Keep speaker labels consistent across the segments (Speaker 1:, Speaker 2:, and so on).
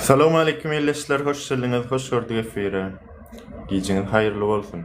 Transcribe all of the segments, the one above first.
Speaker 1: Salam aleýkum ildeşler, hoş geldiňiz, hoş gördük efire. Gijiňiz haýyrly bolsun.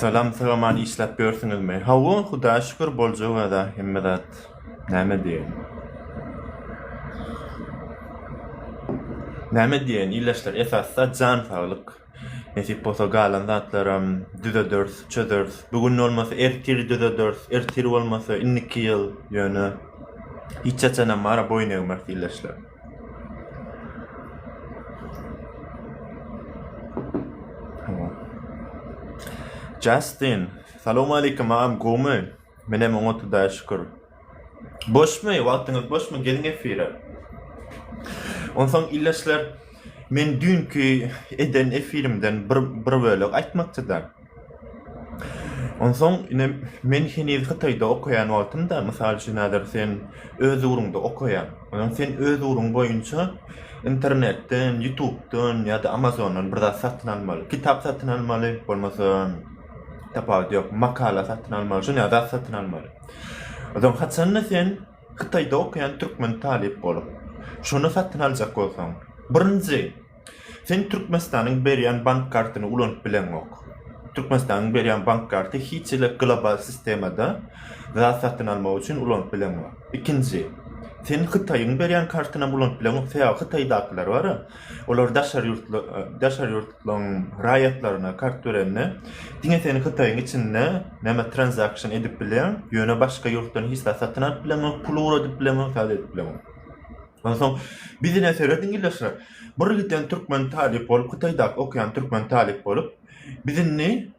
Speaker 1: Salam Sagaman işläp ýörsüňizmi? Hawa, Hudaýa şükür boljagada hemme zat. Näme diýen? Näme diýen illeşler esasda jan saglyk. Nesip bolsa galan zatlaram düzederis, çözeris. Bu gün bolmasa ertir düzederis, ertir bolmasa indiki ýyl ýöne hiç haçanam mara boýun egmeris illeşler. Justin, salowmalikim agam gowmy? Menem oňat hudaýa şükür. Boşmy? Wagtyňyz boşmy? Geliň efire. Onsoň ildeşler, men düýnki eden efirimden bir bir bölek aýtmakçy-da. Onsoň ine men heniz Hytaýda okaýan wagtymda, mysal üçin häzir sen öz ugruňda okaýaň. Onsoň sen öz ugruň boýunça internetden, ýutubdan ýa-da amazondan bir zat satyn almaly. Kitap satyn almaly, bolmasa tapawudy ýok, makala satyn almaly, şuny ýaly zat satyn almaly. Onsoň haçanda sen Hytaýda okaýan türkmen talyp bolup, şuny satyn aljak bolsaň, birinji Sen Türkmenistanyň berýän bank kartyny ulanyp bileňok. Türkmenistanyň berýän bank karty hiç hili global sistemada zat satyn almak üçin ulanyp bileňok. Ikinji, sen Hytaýyň berýän kartynam ulanyp bileňok, sebäbi Hytaýdakylar bar, olar daşary ýurtly, daşary ýurtlaryň raýatlaryna kart berende, diňe sen Hytaýyň içinde näme transaction edip bilýäň, ýöne başga ýurtdan hiç zat satyn alyp bileňok, pul ugradyp bileňok, zat edip bileňok. Onsoň bizine serediň ildeşler. Bir giden türkmen talyp bolup hytaýdaky okaýan türkmen talyp bolup biz indi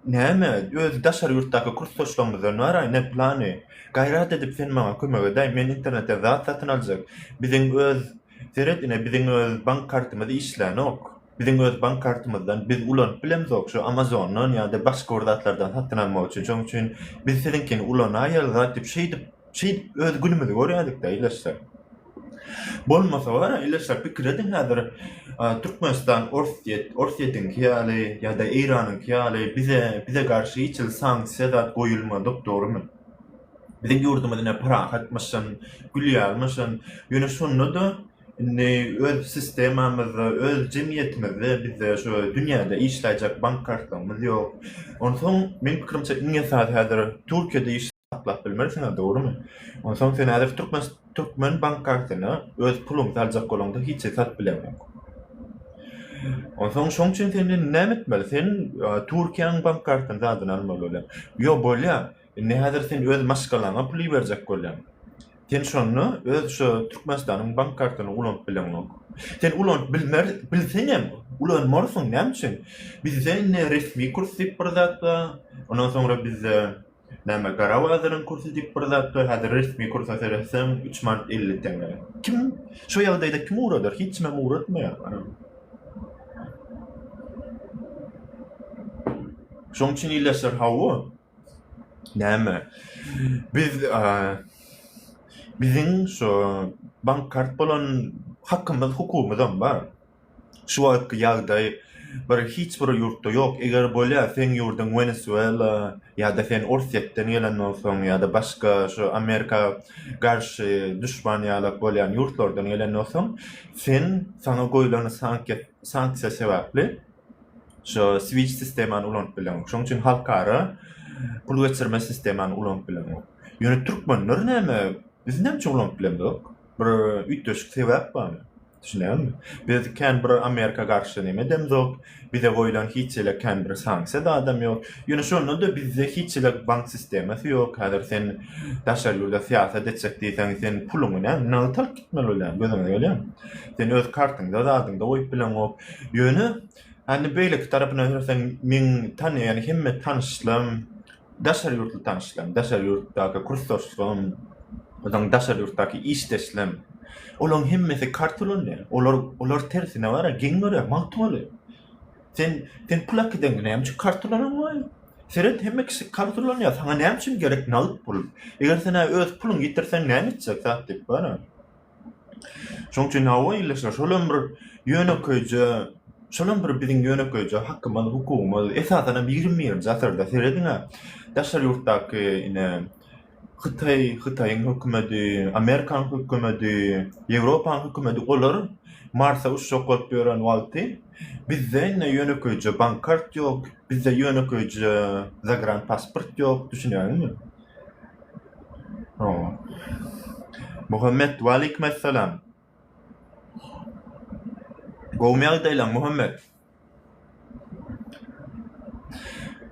Speaker 1: näme öz daşary ýurtdaky kursdaşlarymyzdan baraý ne plany gaýrat edip sen maňa kömek edäý men internetden zat satyn aljak biziň öz seret ine biziň öz bank kartymyz işlänok biziň öz bank kartymyzdan biz ulanyp bilemzok şu amazondan ýa-da başga bir zatlardan satyn almak üçin şoň üçin biz siziňkini ulanaýaly zat diýip şeýdip Şeýdip öz günümizi görýädik-de ildeşler. Bolmasa bar, ildeşler pikir ediň häzir Türkmenistan Orsýet, Orsýetiňki ýaly ýa-da Eýranyňky ýaly bize, bize garşy hiç hili sanksiýa zat goýulmadyk, dogrumy? Biziň ýurdumyz ine parahatmyşyn, gülýärmişin. Ýöne şonda-da indi öz sistemamyzda, öz jemgyýetimizde bizde şu dünýäde işläýjek bank kartlarymyz ýok. Onsoň meň pikirimçe iň esasy häzir Türkiýede saklap bilmersiňiz, dogrumy? Onsoň sen häzir türkmen türkmen bank kartyna öz puluňy saljak bolaňda hiç esas bileň ýok. Onsoň şoň üçin sen indi näme etmeli? Sen e, Türkiýäň bank kartyny zadyny almaly bolýar. Ýo bolýar. Indi häzir sen öz maşgalaňa pul iberjek bolýan. Sen şonda öz şu Türkmenistanyň bank kartyny ulanyp bileňok. Sen ulanyp bilmer, bilseň hem ulanmarsyň. Näme üçin? Bizde indi resmi kurs diýip bir zat bar. Ondan soňra bizde Näme gara bazaryň kursy diýip bir zat bar häzir resmi kursa seretseň üç manat elli teňňe. Kim şu ýagdaýda kimi ugradar hiç kimem ugratmaýar anam. Şoň üçin ildeşler hawa näme biz biziň şu bank kart bolan hakymyz hukugymyzam bar. Şu wagtky ýagdaý bir hiç bir ýurtda ýok, eger bolýa seň ýurdyň Wenesuela ýa-da sen Orsýetden gelen bolsaň ýa-da başga şu Amerika garşy duşman ýalak bolýan ýurtlardan gelen bolsaň sen saňa goýlan sankiýa sanksiýa sebäpli şu Swift sistemany ulanyp bileňok şoň üçin halkara pul geçirme sistemany ulanyp bileňok ýöne türkmenler näme biz näme üçin ulanyp bilemzok bir üýtgeşik sebäp barmy. Düşünýäňmi? Biz kän bir Amerika garşy neme edemzok, bize goýlan hiç hili kän bir sanksiýa zadam ýok. Ýöne şonda-da bizde hiç hili bank sistemasy ýok. Häzir sen daşary ýurda syýasat etjek diýseň, sen puluňy näme, nagt alyp gitmeli bolýaň, gözüňe gelýärmi? Sen öz kartyňda, zadyňda goýup bileňok. Ýöne, hany beýleki tarapyna seň meň tanaýan hemme tanyşlarym, Daşary ýurtly tanyşlaryň, daşary ýurtdaky kursdaşlaryň, onuň daşary ýurtdaky işdeşlem, olaryň hemmesi karta ulanýar. Olar, olar tersine bara, geň görýär, magt bolýar. Sen, sen pul äkidengi näme üçin karta ulananmaýaň? Seret, hemme kişi karta ulanýar, saňa näme üçin gerek nagt pul? Eger sen-ä öz puluňy ýitirseň näme etjek, zat diýip, bara. Şoň üçin hawa ildeşler şolam bir ýönekeýje şolam bir biziň ýönekeýje hakymyz hukugymyz esasanam ýigrimi birinji asyrda serediňä daşary ýurtdaky ine hytaý hytaýyň hökümedi amerikan hökümedi ýewropanyň hökümedi olar marsa uçjak bolup ýören wagty bizde indi ýönekeýje bank kart ýok bizde ýönekeýje zagrant pasport ýok düşünýäňizmi Muhammet, Waleýkimessalam. Gowumy ýagdaýlaň, Muhammet?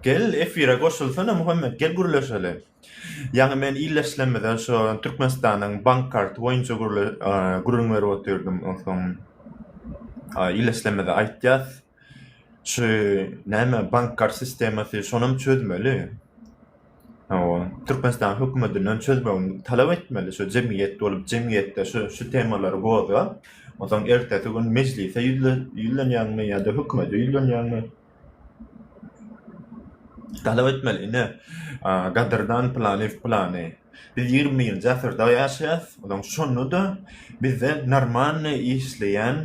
Speaker 1: Gel, efire goşulsana, Muhammet, gel gürleşeli. Ýaňy men ildeşlerimize şo Türkmenistanyň bank karty boýunça gürrüň berip otyrdym, onsoň ildeşlerimize aýtýas, Şu näme bank kart sistemasy şonam çözmeli. Hawa, Türkmenistan hökümetinden çözmegini talap etmeli şu jemgyýet bolup jemgyýetde şu şu temalary gozgap, onsoň ertesi gün mejlise ýüzlenýäňmi ýa-da hökümete ýüzlenýäňmi talap etmeli ine gadyrdan Pylanyýew Pylany biz ýigriminjä asyrda ýaşaýas onsoň şonda-da bizde normalnyý işleýän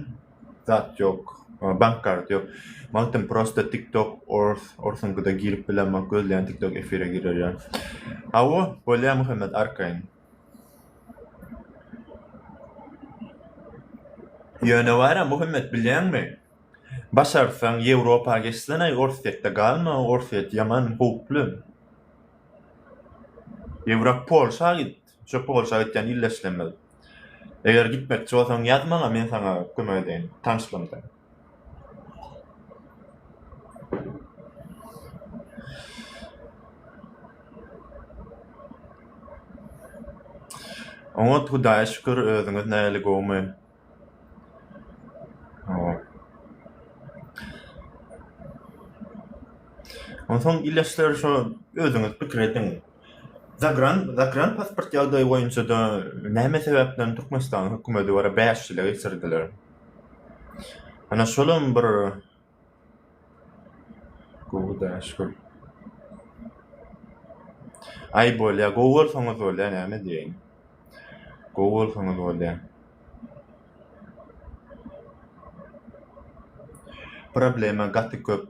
Speaker 1: zat ýok bank karty ýok magtym prosta tik tok ors orsuňkyda girip bilemok gözleýän tik tok efire girer ýa hawa bolýa muhammet arkaýyn ýöne bara muhammet bilýäňmi başarsaň ýewropa geçseneý orsýetde galma orsýet ýaman howply ýewrop polşa git Çöpi bolşa gitýän ille işlemez. Eger gitmekçi bolsaň ýaz maňa men saňa kömek edeýin. Tanyşlanda. Oňat hudaýa şükür özüňiz näli gowmy. Onsoň ildeşler şo özüňiz pikir ediň. Zagran zagran pasport ýagdaýy boýunça-da näme sebäpden Türkmenistanyň hökümeti bara bäş ýyla geçirdiler. Ana şolam bir Gowy daş gül. Aý bolýa gowy bolsaňyz bolýa näme diýeýin. Gowy bolsaňyz bolýa. Problema gaty köp.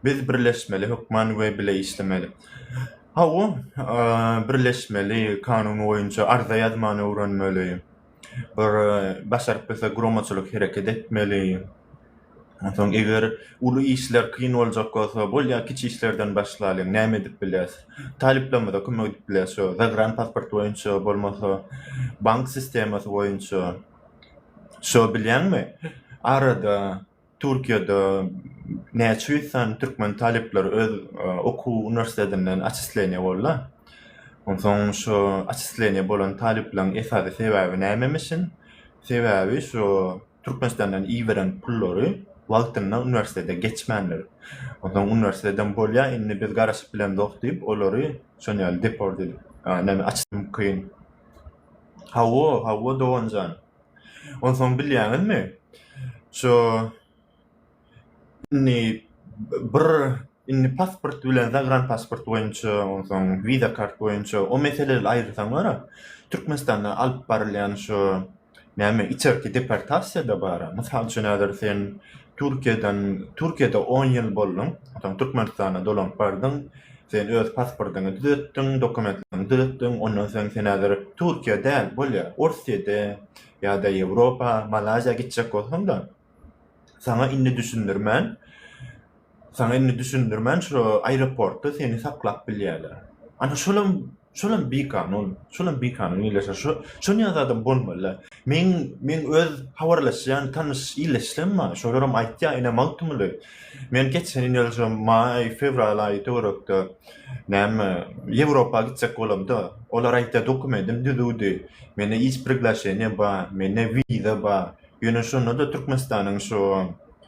Speaker 1: Biz birleşmeli hökman we bile işlemeli. Hawa birleşmeli kanun boýunça arza ýazmany öwrenmeli. bir başaryp bilse guramaçylyk hereket etmeli. Onsoň eger uly işler kyn boljak bolsa, bolýa kiçi işlerden başlalyň, näme edip biles? Talyplarymyza kömek edip biles, şu zagran pasport boýunça, bolmasa bank sistemasy boýunça. Şo bilýäňmi? Arada Türkiýede näçe ýüz sany türkmen talyplary öz okuw uniwersitetinden atçisleniýa boldy? Onsoň şu atçisleniýa bolan talyplaryň esasy sebäbi nämemişin? Sebäbi şu Türkmenistandan iberen pullary wagtynda uniwersitete geçmändir. Onsoň uniwersiteteden bolýa indi biz garaşyp bilemzok diýip olary şon ýaly deport edip näme atçy mümkin. Hawa, hawa doganjan. Onsoň bilýäňizmi, şu indi bir indi pasport bilen zagranpasport boýunça, onsoň wiza kart boýunça o meseleleri aýyrsaňlar-a, Türkmenistanda alyp barylýan şu näme içerki deportasiýa-da bar-a. Mysal üçin, häzir sen Türkiýeden, Türkiýede on ýyl bolduň, onsoň Türkmenistana dolanyp bardyň. Sen öz pasportyňy düzetdiň, dokumentlerini düzetdiň, ondan soň sen häzir Türkiýe däl, bolýa, Orsýede ýa-da Ýewropa, Malaýziýa gitjek bolsaň-da, saňa indi düşündirmän, saňa indi düşündirmän, şo aeroportda seni saklap bilýärler. Ana, şolam Şolam bikanun, şolam bikanun ýerleşýär. Şo şonýa zadam bolmaly. Meň meň öz habarlaşýan tanyş illeşlerim bar. Şolaram aýtýar, ine magtymguly. Men geçen ýyl ýazyja maý, fewral aýy töwerekde näme Ýewropa gitjek bolamda, olar aýtýar dokumentim düzüwdi. Mende iş priglaşeniýa bar, mende wiza bar. Ýöne şonda-da Türkmenistanyň şu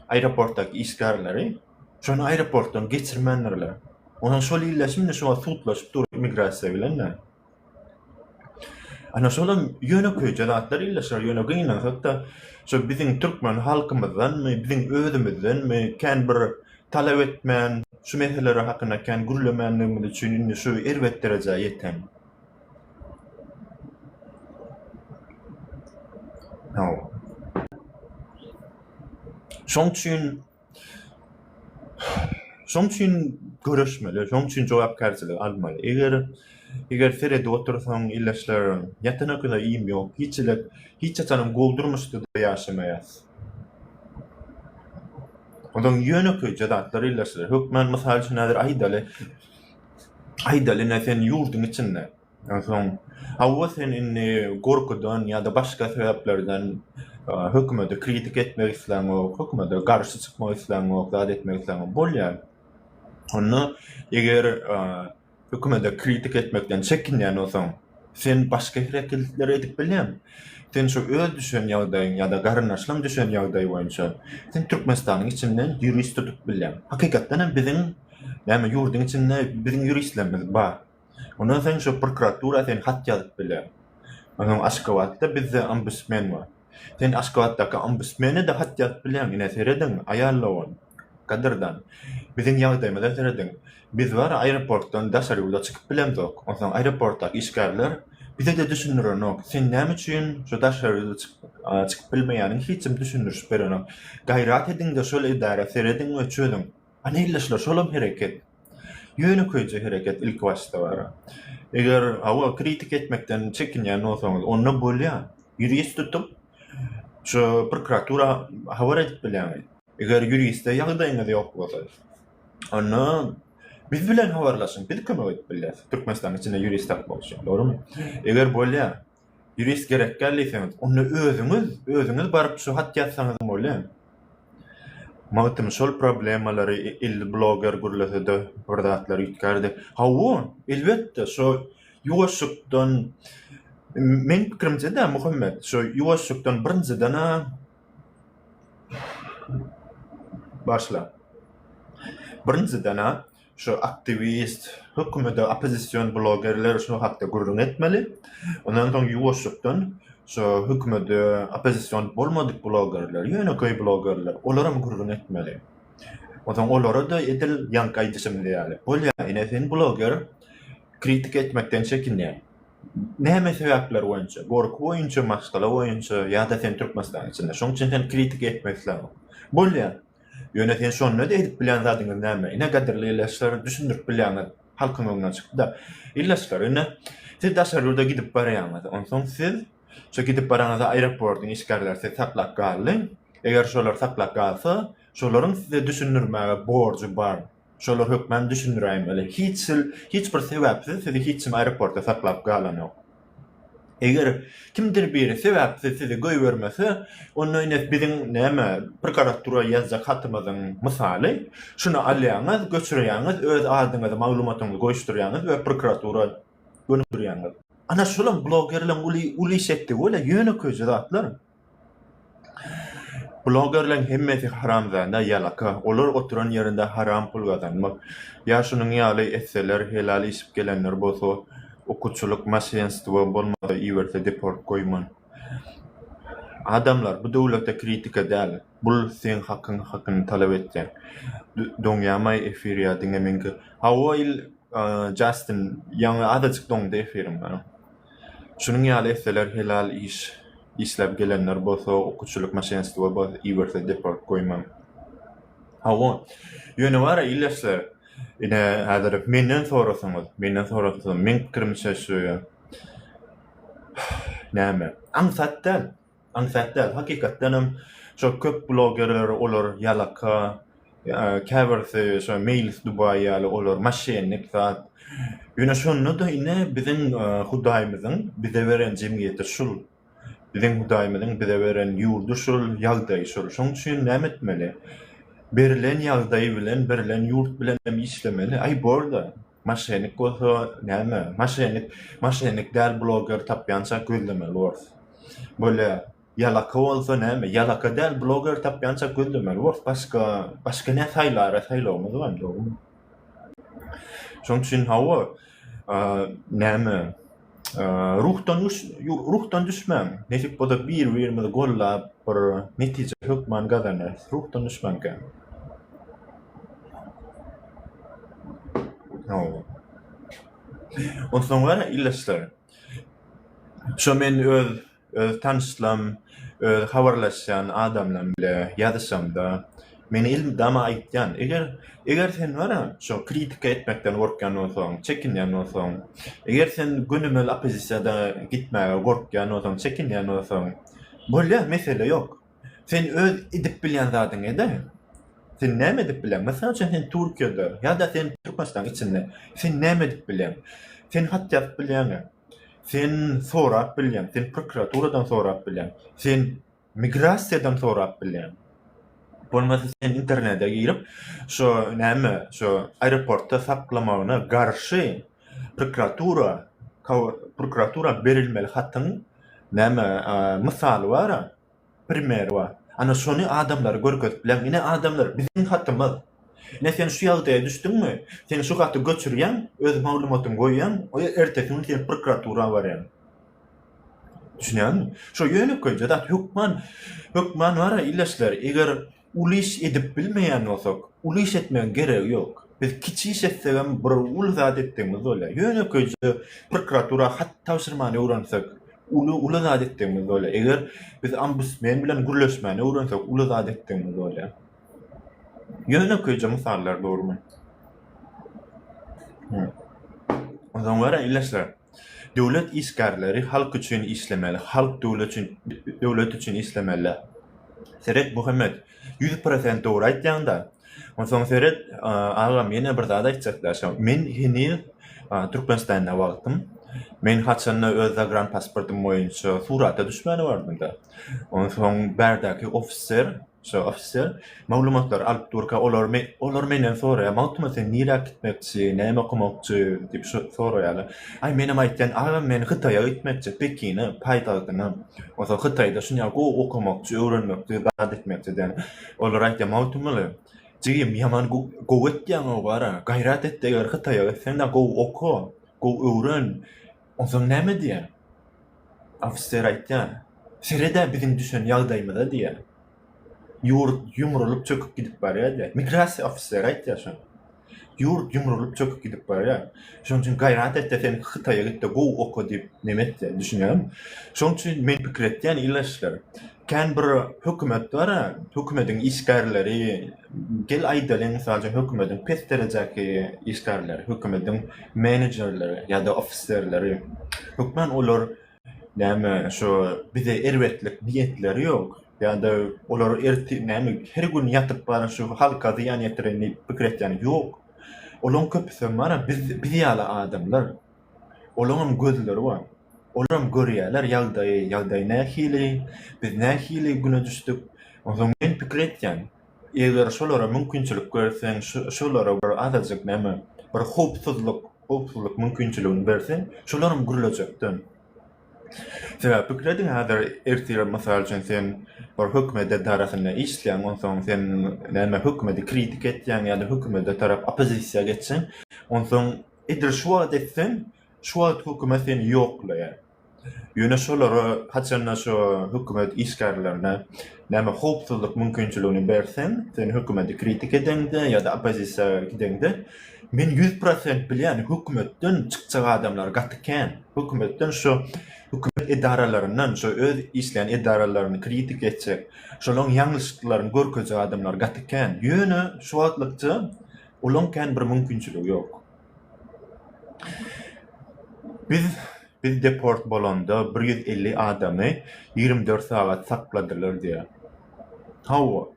Speaker 1: aeroportdaky işgärleri, Şony aeroportdan geçirmändirler. Onam şol ille şimdi şu wagt sudlaşyp dur immigrasiýa bilen-de. Ana şolam ýönekeýje zatlar ille şular ýöne gynansak-da şu biziň türkmen halkymyzdanmy, biziň özümizdenmi kän bir talap etmän, şu meseleler hakynda kän gürlemänligimiz üçin indi şu erbet derejä ýeten. Hawa. Şoň üçin Şoň üçin göreşmeli, şoň üçin jogapkärçiligi almaly. Eger eger seredip otursaň, ildeşler, ýatan öküze iým ýok, hiçlik, hiç haçanam gowy durmuşda-da ýaşamaýas. Onuň ýönekeýje zatlar ildeşler. Hökman, mysal üçin, häzir aýdaly, aýdaly, ine, sen ýurduň içinde, Onsoň, hawa, sen indi gorkudan ýa-da başga sebäplerden hökümete kritika etmek isläňok, hökümete garşy çykmak isläňok, zat etmek isläňok. Bolýar. Onda eger hökümete kritika etmekden çekinýän bolsaň, sen başga hereketler edip bilýäň. Sen şu öz düşen ýagdaýyň ýa-da garyndaşlaryň düşen ýagdaýy boýunça sen Türkmenistanyň içinden ýurist tutup bilýäň. Hakykatdan hem biziň näme ýurduň içinde biziň ýuristlerimiz bar. Ondan soň şo prokuratura sen hat ýazyp biler. Ondan soň Aşgabatda bizde ombudsmen bar. Sen Aşgabatdaky ombudsmene-de hat ýazyp bilersiň. Ine, serediň, aýal dogan, gadyrdan, biziň ýagdaýymyza serediň. Biz bar, aeroportdan daşary ýurda çykyp bilemzok. Ondan soň aeroportdaky işgärler bize-de düşündirenok. Sen näme üçin şo daşary ýurda çykyp bilmeýäniňi hiç kim düşündirişip berenok. Gaýrat ediň-de, şol edara serediň we çözüň. Ana, ildeşler, şolam hereket. Ýönekeýje hereket ilkibaşda bar. Eger hawa kritik etmekden çekinýän bolsaňyz onda bolýar. Ýurist tutup şu prokuratura habar edip bilýäňiz. Eger ýuriste ýagdaýyňyz ýok bolsa onda biz bilen habarlaşyň biz kömek edip bilýäs. Türkmenistanyň içinde ýurist tapmak üçin dogrumy? Eger bolýar. Ýurist gerek däl diýseňiz, onda özüňiz, özüňiz baryp şu hat ýazsaňyzam bolýar. Magtym şol problemalary ýerli bloger gürlese-de bir zatlar üýtgärdi. Hawa, elbetde, şo ýuwaşjykdan, meniň pikirimçe-dä, Muhammet, şo ýuwaşjykdan birinjiden-ä başla. Birinjiden-ä şu aktiwist, hökümede oppozision blogerler şu hakda gürrüň etmeli. Ondan soň ýuwaşlykdan şu hökümede oppozision bolmadyk blogerler, ýönekeý blogerler, olaram gürrüň etmeli. Onsoň olara-da edil ýaňky aýdyşymyz ýaly, bolýa, ine sen bloger, kritika etmekden çekinýäň. Näme sebäpler boýunça? Gorky boýunça, maşgala boýunça ýa-da sen Türkmenistanyň içinde, şonuň üçin sen kritika etmek isläňok. Bolýa, Ýöne sen şonda-da edip bilýän zadyňyz näme? Ine, gadyrly ildeşler, düşündirip bilýäňiz. Halkyň öňüne çykdy. Ildeşler, ine, siz daşary ýurda gidip barýaňyz. Onsoň siz şo gidip baranyňyzda aeroportyň işgärleri sizi saklap galdy. Eger şolar saklap galsa, şolaryň size düşündirmäge borjy bar. Şolar hökman düşündiräýiň öle hiç hil hiç bir sebäpsiz sizi hiç kim aeroportda saklap galanok. Eger kimdir biri sebäpsiz sizi goýbermese onda ine biziň näme prokuratura ýazjak hatymyzyň mysaly şuny alýaňyz göçürýäňiz öz adyňyzy maglumatyňyzy goýuşdyrýaňyz we prokuratura gönükdirýäňiz. Ana şolam blogerleň uly uly şekdigi bolýar ýönekeýje zatlar. Blogerleň hemmesi haramzada ýalaka olar oturan ýerinde haram pul gazanmak ýa şunuň ýaly etseler helal işip gelenler bolsa okuçylyk maşenstwo bolmasa iberse deport goýman adamlar bu döwlete kritika däl. Bul seň hakyň hakyny talap etýän. Doňýamaý efir ýa diňe meňki. Hawa il Justin ýaňy azajyk doňdy efiriň meniň. Şunuň ýaly etseler helal iş işläp gelenler bolsa okuçylyk maşenstwo bas iberse deport goýman. Hawa ýöne bara ildeşler ine häzir menden sorasaňyz menden sorasaňyz meň pikirimçe şu näme aňsat däl Aňsat däl, hakykatdanam şo köp blogerler olar ýalaka, käbirisi şo Meýlis Dubaý ýaly olar maşennik zat. Ýöne şonda-da ine biziň Hudaýymyzyň bize beren jemgyýeti şul. Biziň Hudaýymyzyň bize beren ýurdy şul, ýagdaýy şul. Şoň üçin näme etmeli? Berilen ýagdaý bilen, berilen ýurt bilen hem işlemeli. Aý bor-da, Maşenik bolsa näme? Maşenik, maşenik däl bloger tapýança gözlemeli bors. Bolýa, ýalaka bolsa näme? Ýalaka däl bloger tapýança gözlemeli bors. Başga, başga nä saýlara saýlawymyz bar, dogrumy? Şoň üçin hawa, näme? Ruhdan düş, ruhdan düşmäň. Nesip bolsa bir-birimizi gollap, bir netije hökman gazanarys. Ruhdan düşmäň kän. Onsoň gara ildeşler. Şo men öz Öz tanyşlam, öz habarlaşýan adamlam bile ýazyşamda, meni elmydama aýytýan. Eger, eger sen bar-a, şo kritika etmekden gorkýan bolsaň, çekinýän bolsaň, eger sen gönümel oppozisiýada gitmäge gorkýan bolsaň, çekinýän bolsaň, bolýa, mesele ýok. Sen öz edip bilýän zadyňy ede. Sen näme edip bileň? Mysal üçin, sen Türkiýede ýa-da sen Türkmenistanyň içinde sen näme edip bileň? Sen hat ýazyp bilýäňä. Sen sorap bilýäň, sen prokuraturadan sorap bilýäň, sen migrasiýadan sorap bilýäň. Bolmasa sen internete girip, şo näme, şo aeroportda saklamagyna garşy prokuratura prokuratura berilmeli hatyň näme mysaly bar-a, Primer bar. Ana şony adamlara görkezip bileň. Ine adamlar, biziň hatymyz. Ine sen şu ýagdaýa düşdüňmi? Sen şu haty göçürýäň, öz maglumatyňy goýýaň, ertesi gün sen prokuratura barýaň. Düşünýäňmi? Şo ýönekeýje zat. Hökman, hökman bar-a, ileşler. Eger Uly iş edip bilmeýän bolsak, uly iş etmegiň geregi ýok. Biz kiçi iş etsegem bir uly zat etdigimiz bolýar. Ýönekeýje prokuratura hat tabşyrmany öwrensek, uly uly zat etdigimiz bolýar. Eger biz ombudsmen bilen gürleşmäni öwrensek, uly zat etdigimiz bolýar. Ýönekeýje mysallar dogrumy? Onsoň görä, ildeşler. Döwlet işgärleri halk üçin işlemeli, halk döwlet üçin işlemeli. Seret Muhammet, ýüz prosent dogry aýtýaňda. Onsoň seret, agam ýene bir zat aýtjakda şo, men heniz Türkmenistanda wagtym, men haçanda öz zagranpasportym boýunça surata düşmäni bardymda. Onsoň bärdäki ofiser, Şo ofiser maglumatlary alyp durka, olar, olar menden soraýar, Magtymguly sen nirä gitmekçi, näme okamakçy? diýip soraýarlar. Aý, menem aýtýan, agam men Hytaýa gitmekçi, Pekine, paýtagtyna. Onsoň Hytaýda şunýa gowy okamakçy, öwrenmekçi, zat etmekçi diýen. Olar aýtýar, Magtymguly, jigim ýaman gowy etýäň-ow gara, gaýrat et-de eger Hytaýa gitseň-de gowy oka, gowy öwren. Onsoň näme edýär? Ofiser aýtýar, Sered-ä biziň düşen ýagdaýymyza diýýär. Ýurt ýumrulyp çöküp gidip barýar diýýär. Migrasiýa ofiseri aýtýar şony. Ýurt ýumrulyp çöküp gidip barýar. Şonuň üçin gaýrat et-de sen Hytaýa git-de gowy oka diýip neme etýär, düşünýäňmi? Şonuň üçin men pikir etýän, ilatçylar, Kän bir hökümet bar, hökümediň işgärleri, gel aýdalyň, mysal üçin, hökümediň pes derejäki işgärleri, hökümediň menejerleri ýa-da ofiserleri, hökman olar, näme, şu bize erbetlik niýetleri ýok, ýa-da olar ertir, näme, her gün ýatyp bar, şu halka zyýan ýetiren diýip pikir etýän ýok. Olaryň köpüsem bar, biz, biz ýaly adamlar. Olaňam gözleri bar. Olaram görýärler ýagdaýy, ýagdaý nähili, biz nähili güne düşdük. Onsoň men pikir etýän, eger şolara mümkinçilik berseň, şolara bir azajyk näme, bir howpsuzlyk, howpsuzlyk mümkinçiligini berseň, şolaram gürlejekden. Sebäbi pikir ediň, häzir ertir, mysal üçin, sen bir hökümet edarasynda işleýäň, onsoň sen näme, hökümeti kritika etýäň ýa-da hökümete tarap oppozisiýa geçseň, onsoň, Eger şu wagt etseň, şu wagt hökümet seni ýoklaýar. Ýöne şolara haçanda şo hökümet işgärlerine näme howpsuzlyk mümkinçiligini berseň, sen hökümeti kritik edeňde ýa-da oppozisiýa gideňde, men ýüz prosent bilýän, hökümetden çykjak adamlar gaty kän. Hökümetden şo hökümet edaralaryndan, şo öz işleýän edaralaryny kritik etjek, şolaryň ýalňyşlyklaryny görkezjek adamlar gaty kän. Ýöne şu wagtlykça Olaň kän bir mümkinçiligi ýok. Biz biz deport bolanda bir ýüz elli adamy ýigrimi dört sagat sakladylar diýýär. Hawa.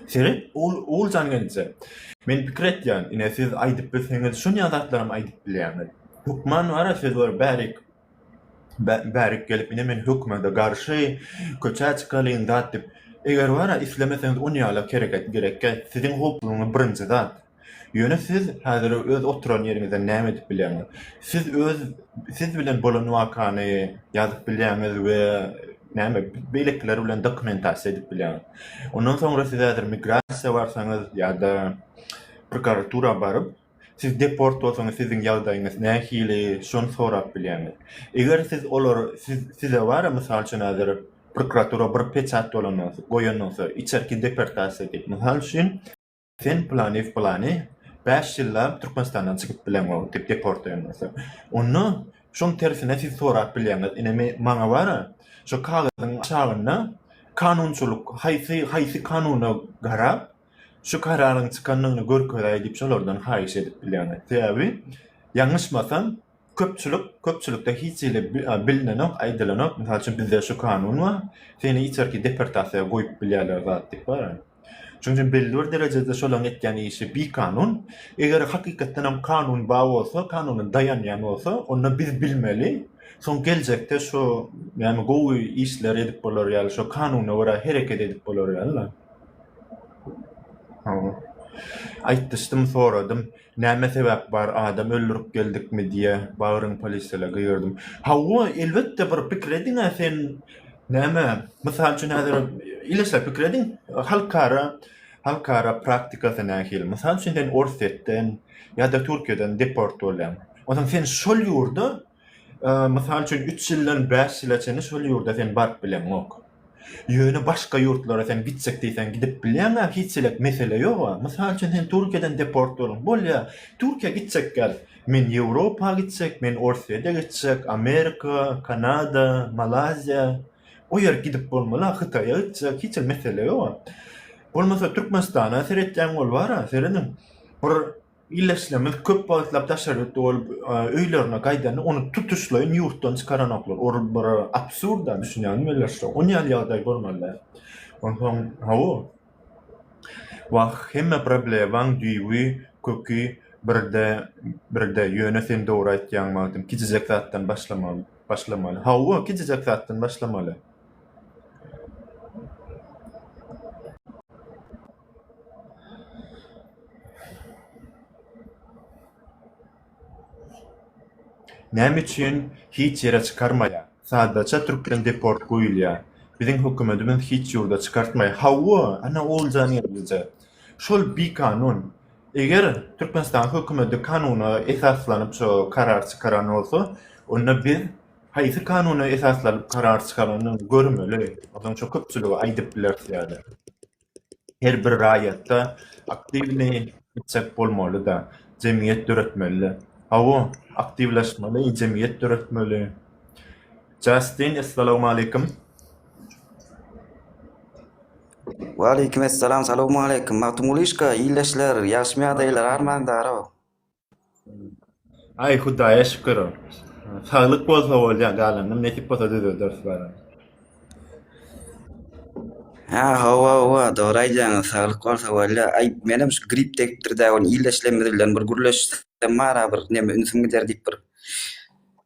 Speaker 1: Seret, Oguljan gelje. Men pikir etýän, ine siz aýdyp bilseňiz şonýa zatlaram aýdyp bilýäňiz. Hökman bar-a söz bar bärik. Bärik gelip ine men hökümede garşy köçä çykalyn zat dip eger bara islemeseňiz on ýala kereket gerekkä siziň hoplugyňyz birinji zat ýöne siz häzir öz oturan ýeriňizden näme edip bilýäňiz siz öz siz bilen bolan wakany ýazyp bilýäňiz we näme beýlekiler bilen dokumentasiýa edip bilýäňiz ondan soňra siz häzir migrasiýa barsaňyz ýada prokuratura baryp Siz deport bolsaňyz siziň ýagdaýyňyz nähili şony sorap bilýäňiz. Eger siz olar siz size bara mysal üçin häzir prokuratura bir peçat bolanda goýan bolsa içerki deportasiýa diýip mysal üçin, sen planiw plani bäş ýyllap Türkmenistandan çykyp bileňok diýip deport diýen bolsa onda şoň tersine siz sorap bilýäňiz ine men maňa bara şo kagyzyň aşagynda kanunçylyk haýsy haýsy kanuna garap şu kararyň çykandygyny görkezäý diýip şolardan haýyş edip bilýäňiz. Sebäbi ýalňyşmasam köpçülik köpçülikde hiç hili bilnenok, aýdylanok. Mysal üçin bizde şu kanun bar. Seni içerki deportasiýa goýup bilýärler zat diýip bar. Şonuň üçin belli bir derejede şolaryň etýän işi bikanun. Eger hakykatdan hem kanun bar bolsa, kanuna daýanýan bolsa, onda biz bilmeli. Soň geljekde şu ýagny gowy işler edip bolar ýaly, şu kanuna görä hereket edip bolar ýaly-la. Aýtdyşdym, soradym. Näme sebäp bar, adam öldürip geldikmi diýe, bagryň polisele gyýyrdym. Hawa, elbetde, bir pikir ediň-ä sen, näme, mysal üçin, häzir, ile şeýle pikir ediň, halkara, halkara praktikasy nähili? Mysal üçin, sen Orsýetden ýa-da Türkiýeden deport bolýaň. Onsoň sen şol ýurda Mysal üçin, üç ýyldan bäş ýyla çenli şol ýurda sen baryp bileňok. Ýöne başga ýurtlara sen gitjek diýseň gidip bilýäň-ä, hiç ýelek mesele ýog-a. Mysal üçin, sen Türkiýeden deport boldun. Bolýa, Türkiýä gitjek gel. Men Ýewropa gitjek, men Orsýete gitjek, Amerika, Kanada, Malaýziýa. O ýere gidip bolmaly-a, Hytaýa gitjek, hiç hili mesele ýog-a. Bolmasa Türkmenistana seretýäň, ol bar-a, serediň. Bir Ildeşlerimiz köp wagtlap daşary ýurtda bolup, öýlerine gaýdanda, ony tutuşlaýyn ýurtdan çykaranoklar. Ol bir absurd-a, düşünýäňizmi welin şu? Ony ýaly ýagdaý bolmaly däl. Onsoň, hawa, wah, hemme problemaň düýbi, köki birde, birde, ýöne sen dogry aýtýaň, Magtym, kiçijek zatdan başlamaly, başlamaly. Hawa, kiçijek zatdan başlamaly. Näme üçin hiç ýere çykarmaýar? Sadaça türkden deport goýulýar. Biziň hökümetimiz hiç ýurda çykartmaýar. Hawa, ana olja nerwije. Şol bikanun. Eger Türkmenistanyň hökümeti kanuna esaslanyp şo karar çykaran bolsa, onda biz haýsy kanuna esaslanyp karar çykaranyny görmeli. Ondan soň köpçülige aýdyp bileris ýa-da. her bir raýatda aktiwny isleg bolmaly-da, jemgyýet döretmeli. Hawa, aktiwleşmeli, jemgyýet döretmeli. Justin, Essalawmaleýkim.
Speaker 2: Waleýkim Essalam, Salawmaleýkim. Magtymguly Işka, Ildeşler, Ýagşymy ýadaýlar, Arman Darow.
Speaker 1: Aý hudaýa şükür. Saglyk bolsa bolýa galanynam nesip bolsa düzelderis bara.
Speaker 2: Ha hawa hawa dogry aýdýaňyz saglyk bolsa bolýa. Aý menem şu grip degipdir dä ony ildeşlerimiz bilen bir gürleşsem bara bir neme ünsüm gider diýip bir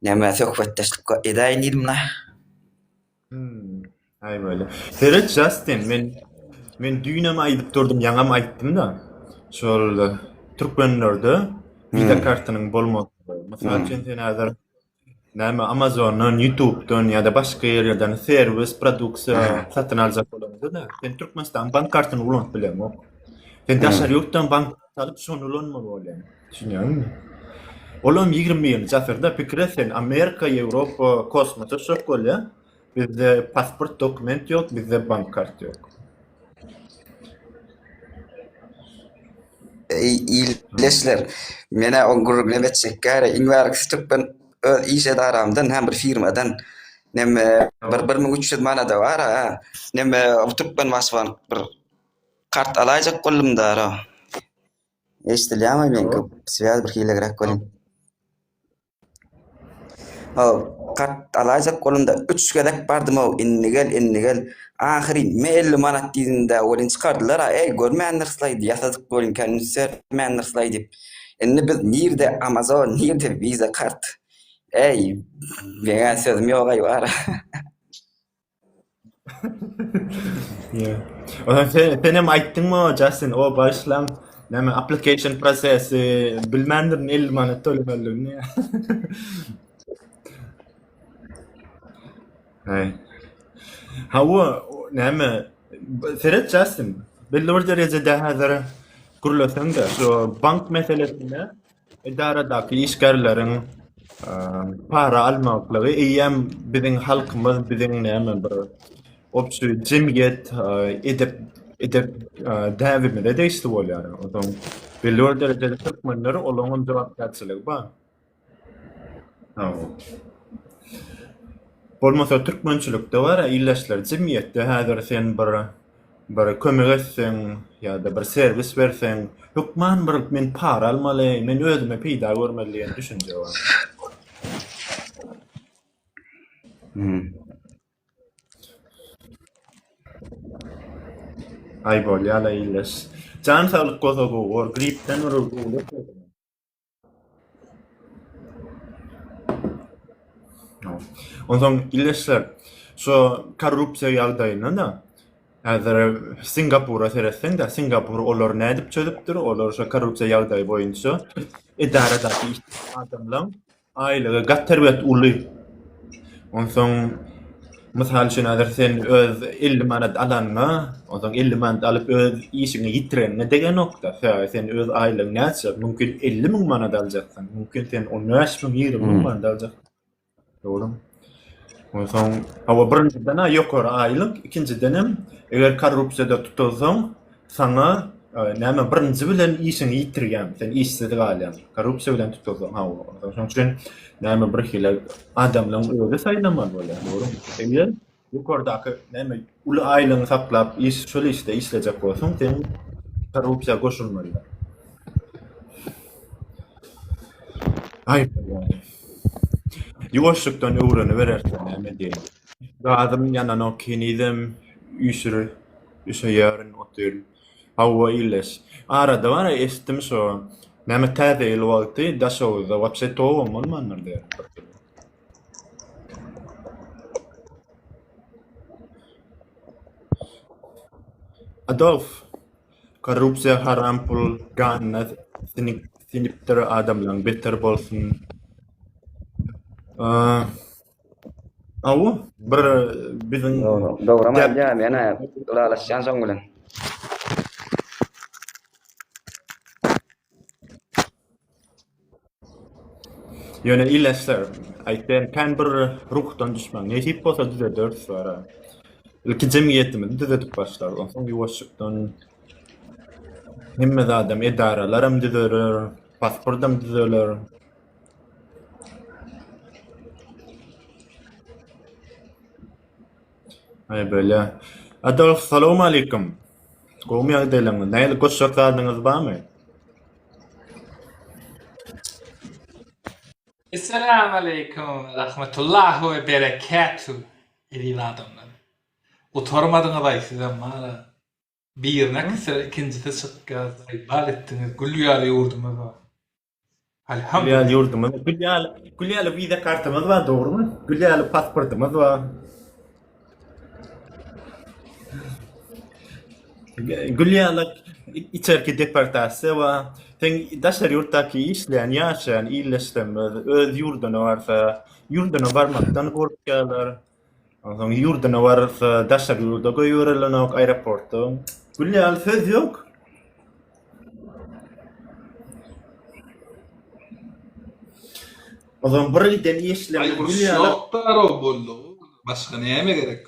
Speaker 2: neme söhbetdeşlik edäýin diýdim la. Hmm.
Speaker 1: Ay böyle. Seret Justin men men düýnem aýdyp durdum, ýaňam aýtdym-da. Şol türkmenlerde visa hmm. kartynyň bolmagy. Mysal hmm. üçin sen häzir näme Amazondan, YouTube'dan ýa-da başga ýerlerden serwis, produksiýa hmm. satyn aljak bolanda, sen Türkmenistan bank kartyny ulanyp bilemok. Sen daşary ýurtdan bank Salyp şony ulanmaly bolýan. Düşünýäňizmi? Olam ýigrimi birinji asyrda pikir et sen Amerika, Ýewropa kosmosa şok bolýa. Bizde pasport dokument ýok, bizde bank kart ýok.
Speaker 2: Eý, ildeşler, menä o gürrüňem etjek gäre, iň bärki şu türkmen öz iş edaramdan, hä, bir firmadan, neme, bir bir müň üç ýüz manada bar-a, neme, bu türkmen başbank bir, Kart alaýjak boldum dara. Eşdilýärmi men köp swýaz bir hilegräk welin. Haw, kart alaýjak boldumda üç gezek bardym-ow, indi gel, indi gel. Ahyryn, me elli manat diýdim-dä welin çykardylar-a, eý, görmändirslaý, ýasadyk welin kän üns bermändirslaý diýip. Indi biz nirde Amazon, nirde Visa kart. Eý, meňä sözüm ýog-aý bara.
Speaker 1: Yeah. Ondan sen, sen hem aýtdyň mı Justin o başlan näme application prosesi bilmändirin 50 manat tölemeligini. Hey. Ha o o näme seret Justin belli bir derejede häzir gürleseň de şu bank meselesinde Edaradaky işgärleriň para almaklygy eýýäm biziň halkymyz, biziň näme bir obşi jemgyýet edep edep däbimize degişli bolýar. Onsoň belli bir derejede türkmenler olaň hem jogapkärçiligi bar. Bolmasa türkmençilikde bar, ildeşler jemgyýetde häzir sen bir bir kömek etseň ýa-da bir serwis berseň, hökman bir men para almaly, men özüme peýda görmeli diýen düşünje bar. Hmm. Aý bolýa-la ýyldyz. Jan saglyk bolsa gowy bor, gripden bir uly. Onsoň ildeşler, şu korrupsiýa ýagdaýyna da, häzir Singapura seretseň-de, Singapur olary nädip çözüpdir, olar şu korrupsiýa ýagdaýy boýunça edaradaky adamlaň Aýlygy gaty erbet uly. Onsoň mysal üçin häzir sen öz 50 manat alanyňa, onsoň 50 manat alyp öz işiňi ýitireniňe degenokda. Sebäbi sen öz aýlygyň näçe? Mümkin 50 müň manat aljaksyň, mümkin sen 15 müň, 20 müň manat aljaksyň. Dogrumy? Onsoň, hawa, birinjiden-ä ýokary aýlyk, ikinjidenem, eger korrupsiýada tutulsaň, saňa, näme, birinji bilen işiňi ýitirýäň, sen işsiz galýaň, korrupsiýa bilen tutulsaň, hawa. Onsoň, şonuň üçin, näme, birhili adamlaryň özi saýlamaly bolýar, dogrumy? Ýokardaky näme uly aýlygyňy saklap iş şol işde işlejek bolsaň sen korrupsiýa goşulmalydyr. Aý ýa-da. Ýuwaşlykdan öwreniberersiň näme diýen. Gazym ýananok henizem üýşür üşeýärin otyr. Hawa illeş. Arada bar eşitdim şo näme täze ýyl wagty Daşoguzda wapşe towam bolmandyr diýen. Adolf, korrupsiýa haram pul ganyna siňipdir adamlaň beter bolsun. Awu bir biziň Dogry aýdýar
Speaker 2: men ylalaşýan şoň bilen.
Speaker 1: Ýöne ileşsir. Aýtýan kän bir ruhdan düşmäň. Nesip bolsa düzederis wara. Ilki jemgyýetimizi düzedip başlarys. Onsoň ýuwaşjykdan hemme zadam edaralaram düzeler, pasportam düzeler. Aý bölä. Adolf salowmalikim. Gowmy ýagdaýlaryňyz? Nähili goşjak zadyňyz barmy?
Speaker 3: Essalamualeýkum rahmetullahi we berekatu eziz adamlar. Gutarmadyňyzaý sizem mala. Birine kisir ikinjisi çykýar, ykbal etdiňiz, gül ýaly ýurdumyz bar. Alhamdulillah ýurdumyz gül
Speaker 1: ýaly. Gül ýaly wiza kartamyz bar, dogrumy? Gül ýaly pasportymyz bar. Gül ýaly içerki deportasiýa bar. Sen daşary ýurtdaky işleýän, ýaşaýan ildeşlerimiz öz ýurduna barsa, ýurduna barmakdan gorkýarlar. Onsoň ýurduna barsa, daşary ýurda goýberilenok aeroportda. Gülýä ýaly söz ýok. Ozan bir giden işleme gülýä. Ýokda arab boldy.
Speaker 3: Başga näme gerek?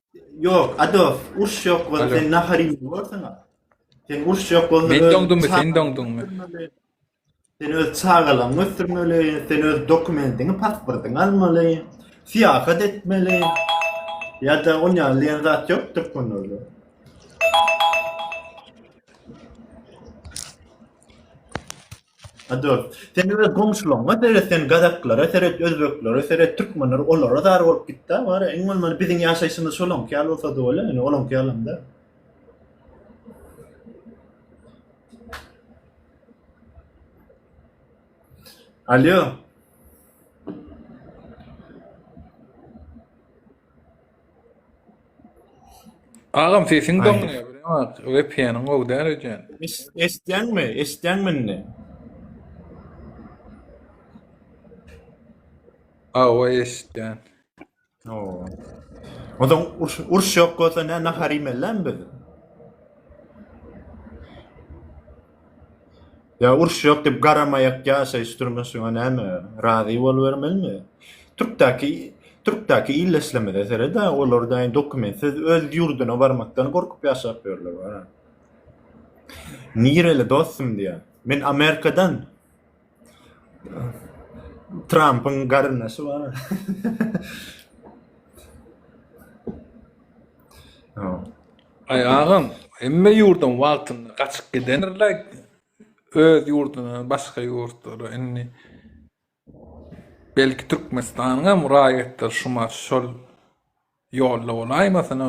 Speaker 1: Yok ado uruş yok bolsa Alo. sen nahar iýip bolsaň. Sen uruş yok
Speaker 4: bolsa Men
Speaker 1: doňduňmy, sen
Speaker 4: doňduňmy?
Speaker 1: Sen öz çagalaryňy götürmeli, sen öz dokumentini, pasportyny almaly, syýahat etmeli. Ya da on ýaly diýen zat ýokdur konuda. Adolt. Sen öz goňşularyňa seret, sen gazaklara seret, özbeklere seret, türkmenlere, olara zar bolup git-dä, wara, iň bolmanda biziň ýaşaýşymyz şolaňky ýaly bolsa-da bolar, ýöne olaňky ýalam-da. Alýo.
Speaker 3: Agam sesiň doňýar
Speaker 1: bilemok
Speaker 3: vpn-iň gowy däl öýdýän. Eşitýäňmi?
Speaker 1: Eşitýäňmi indi?
Speaker 3: Awa eşitýän.
Speaker 1: Oo. Ondan uruş, uruş yok olsa ne nahar yemeliler mi biz? Ýa uruş ýok diýip garamaýak ýaşaýyş durmuşyňa näme razy bolubermelimi? Türkdäki Türkdäki illeslemede seret-ä olar daýy dokumentsiz öz ýurduna barmakdan gorkup ýaşap ýörler bara. Nireli dostum diýýä. Men Amerikadan. Trampyň garyndaşy bar. Ay
Speaker 3: agam, emme yurdun wagtynda gaçyp gidenirler öz yurduna, başga yurtlara indi belki Türkmenistanyň hem raýatlary şuma şol Ýolda bolaýmasyn-a?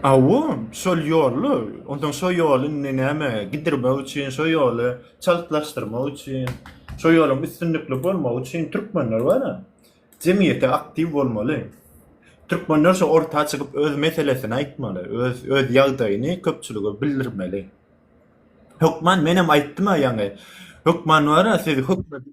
Speaker 1: Aw-u, şol ýolly. Onsoň şo ýoly indi näme, gidirmek üçin, şo ýoly çaltlaşdyrmak üçin, şo ýoluň üstünlikli bolmagy üçin türkmenler bar-a. Jemgyýete aktiw bolmaly. Türkmenler şo orta çykyp öz meselesini aýtmaly, öz öz ýagdaýyny köpçülige bildirmeli. Hökman menem aýtdym-a ýaňy. Hökman bar-a siz hökmedi.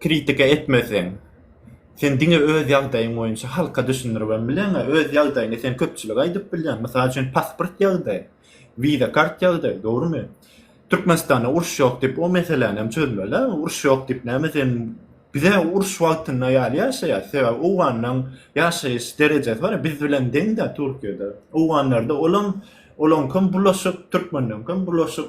Speaker 1: kritika etmeseň, sen diňe öz ýagdaýyň boýunça halka düşündiribem bileňä, öz ýagdaýyňy sen köpçülige aýdyp bilýäň. Mysal üçin, pasport ýagdaýy, wiza kart ýagdaýy, dogrumy? Türkmenistanda uruş ýok diýip, o meseläni hem çözmeli-ä. Uruş ýok diýip, näme sen Bize uruş wagtynda ýaly ýaşaýas. Sebäbi owganlaryň ýaşaýyş derejesi bar, biz bilen deň-dä Türkiýede. Owganlarda olam, olaňkam bulaşyk, türkmenleňkam bulaşyk.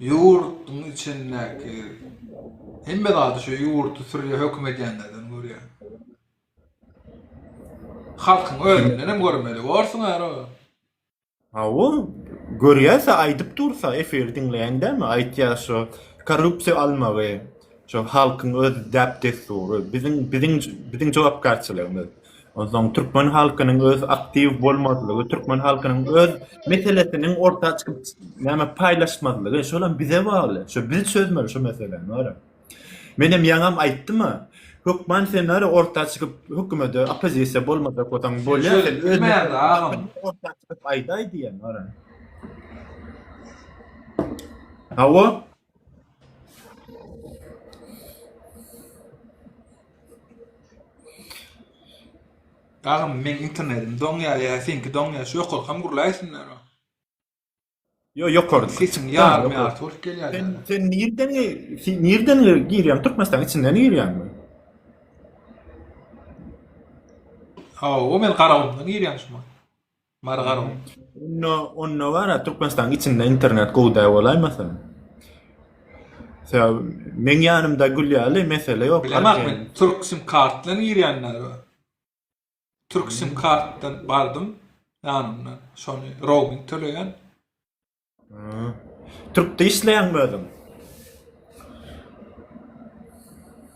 Speaker 3: Ýurduň içindäki hemme zady şu ýurdy sürýä höküm edýänlerden görýän. Halkyň özündenem görmeli borsuň ara. Hawa,
Speaker 1: görýäsä aýdyp dursa efir diňleýäň dämi aýtýa şu korrupsiýa almagy şu halkyň öz däp-dessury biziň biziň biziň jogapkärçiligimiz. Onsoň türkmen halkynyň öz aktiw bolmazlygy, türkmen halkynyň öz meselesiniň orta çykyp näme paýlaşmazlygy şolam bize bagly. Şo biz çözmeli şu meseläni ara. Men hem ýaňam aýtdym ha. Hökman sen ara orta çykyp hökümete oppozisiýa bolmasa gotaň bolýa.
Speaker 3: Orta çykyp
Speaker 1: aýdaý diýen ara. Hawa.
Speaker 3: Agam meň internetim doňýar ýa seňki doňýar şu ýokarkam gurlaýsinler. Yo
Speaker 1: ýokarky. Sesiň ýarym ýarty bolup
Speaker 3: gelýär. Sen
Speaker 1: sen nirden nirden girýäň Türkmenistan içinden girýäňmi?
Speaker 3: Ha, o men Garagumdan girýän şuma. Margarow. Onda, onda
Speaker 1: bar-a, Türkmenistanyň içinde internet gowy däl bolaýmasyn? Sebäbi meň ýanymda gül ýaly, mesele ýok. Bilemak men, türk
Speaker 3: sim kartdan girýänler bar. Türk sim kartdan bardym, ýanymdan, şony roaming töleýän.
Speaker 1: Türkde işleýäňmi özüň?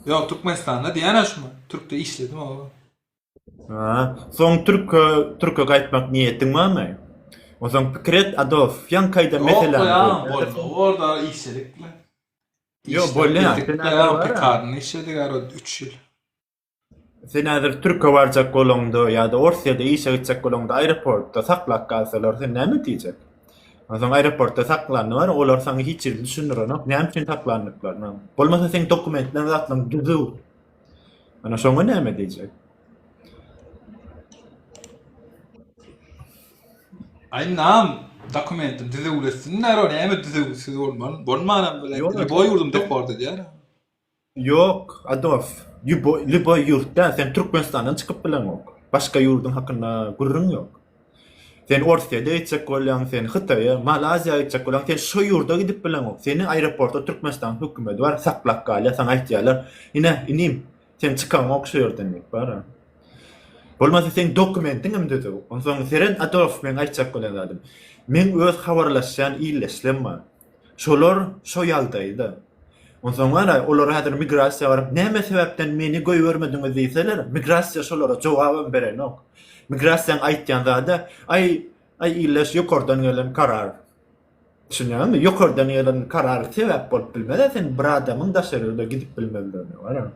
Speaker 3: Ýok, Türkmenistanda diýýän şumy? Türkde işledim oba.
Speaker 1: Ha, soň Türk'e, Türk'e gaýtmak niýetiň barmy? Onsoň pikir et, Adolf, ýaňky aýdan meselem. Ýok, orada
Speaker 3: işledik bilen. Ýok,
Speaker 1: bolýar. Sen pikarny
Speaker 3: işledik ara 3 ýyl. Sen
Speaker 1: häzir türke barjak bolaňda ýa-da Orsýede işe gitjek bolaňda aeroportda saklap galsalar, sen näme diýjek? Onsoň aeroportda saklandy bar, olar saňa hiç zat düşündirenok, näme üçin saklandyklaryny. Bolmasa seň dokumentleň zatlaň düzüw. Ana şoňa näme diýjek?
Speaker 3: Aý nam dokumentim düzüwlesinler, o näme düzüwsiz bolman, bolmanam bilen, boý ýurdum dokor diýýär. Ýok,
Speaker 1: Adolf, lýuboý ýurtda sen Türkmenistandan çykyp bileňok. Başga ýurduň hakynda gürrüň ýok. Sen Orsýede gitjek bolýaň, sen Hytaýa, Malaýziýa gitjek bolýaň, sen şo ýurda gidip bileňok. Seni aeroportda Türkmenistanyň hökümedi bar, saklap galýar, saňa aýtýarlar, Ine, inim, sen çykaňok şo ýerden diýip, bar-a. Bolmasa seň dokumentiň hem düzüw. Onsoň seren, Adolf, meň aýtjak bolan zadym. Meň öz habarlaşýan ildeşlem bar. Şolar şo ýagdaýda. Onsoň garaý, olar häzir migrasiýa baryp, näme sebäpden meni goýbermediňiz diýseler, migrasiýa şolara jogabam berenok. Migrasiýaň aýtýan zady, Aý, aý ildeş, ýokardan gelen karar. Düşünýäňizmi? Ýokardan gelen karar sebäp bolup bilmez-ä sen bir adamyň daşarýurda gidip bilmezligine, garaň.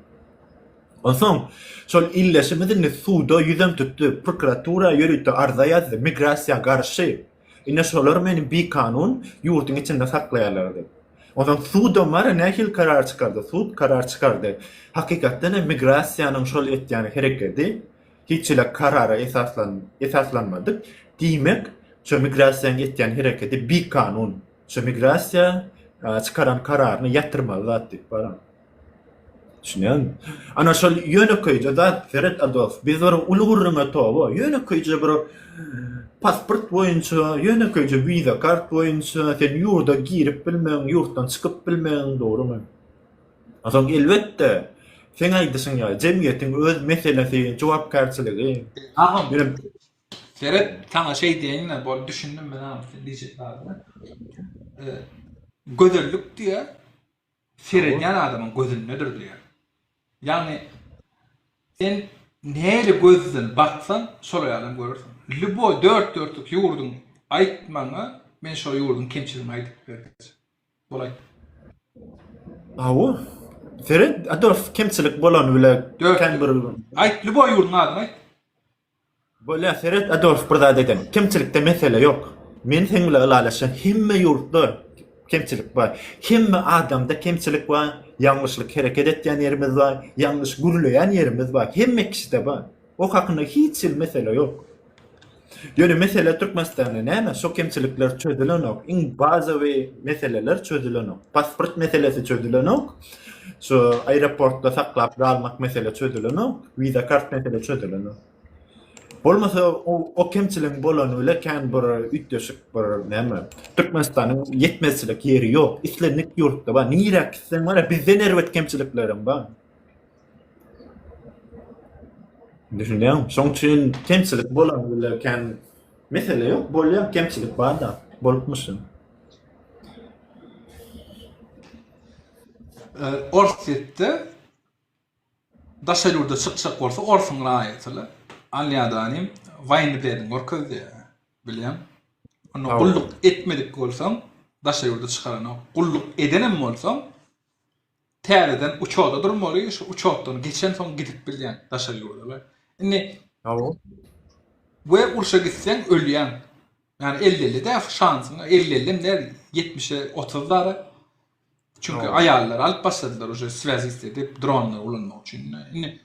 Speaker 1: Onsoň, şol ildeşimiz indi suda ýüzem tutdy, prokuratura ýörite arza ýazdy, migrasiýa garşy. Ine şolar meni bikanun ýurduň içinde saklaýarlardy. Onsoň sudam bar, nähili karar çykardy? Sud karar çykardy. Hakykatdan hem migrasiýanyň şol etýän herekedi hiç hili karara esaslan esaslanmady. Diýmek, şu migrasiýanyň etýän herekedi bikanun. Şu migrasiýa çykaran kararyny ýatyrmaly zat diýip baran. Düşünýäňmi? Ana şol ýönekeýje zat, seret a dost, biz bir uly gürrüňe toba, ýönekeýje bir pasport boýunça, ýönekeýje wiza kart boýunça sen ýurda girip bilmegiň, ýurtdan çykyp bilmegiň, dogrumy? A soň elbetde, seň aýdyşyň ýaly, jemgyýetiň öz meselesi, jogapkärçiligi. Agam,
Speaker 3: seret, saňa şeý diýeýin-le, bol, düşündim men agam sen diýjek zadyňy. Gözellik diýýär. seredýän adamyň gözündedir diýýär. Ýagny sen nähili gözden baksaň, şol ýalam görersiň. Lýuboý dört dörtlük ýurduň aýt maňa, men şo ýurduň kemçiligini aýdyp ber diýse, bolaý. Hawa.
Speaker 1: Seret, Adolf kemçilik bolany bile kän bir. Aýt, lýuboý ýurduň
Speaker 3: adyny aýt. Bolýa
Speaker 1: seret Adolf bir zat eden. Kemçilikde mesele ýok. Men seň bilen ylalaşýan hemme ýurtda kemçilik bar. Hemme adamda kemçilik bar. Ýalňyşlyk hereket etýän ýerimiz bar. Ýalňyş gürleýän ýerimiz bar. Hemme kişide bar. O hakynda hiç hili mesele ýok. Ýöne mesele Türkmenistanda näme şo kemçilikler çözülenok. Iň bazawyy meseleler çözülenok. Pasport meselesi çözülenok. Şu aeroportda saklap galmak mesele çözüleni, wiza kart mesele çözüleni. Bolmasa o, o kemçiligiň bolany bile kän bir üýtgeşik bir näme. Türkmenistanyň ýetmezçilik ýeri ýok. Islendik ýurtda bar. Nirä gitseň bar, bizden erbet kemçiliklerim bar. Düşünýäňmi? Şoň üçin kemçilik bolany bile kän mesele ýok. Bolýar kemçilik bar-da, bolupmyşyn.
Speaker 3: Orsýetde daşary ýurda çykjak bolsa orsuň raýatyla alýada nim waýnny biledigini görkezýä bileň onda gulluk etmedik bolsaň daşary ýurda çykarana gulluk edenem bolsaň täzeden uçoda durmaly şu uçotdan geçen soň gidip bilýän daşary ýurda indi we urşa gitseň ölýäň Ýani elli elli däl şu şansyň elli elli hem däl ýetmişe otuz dara. Çünki aýallar alyp başladylar uje swezist edip dronlar ulanmak üçin. Indi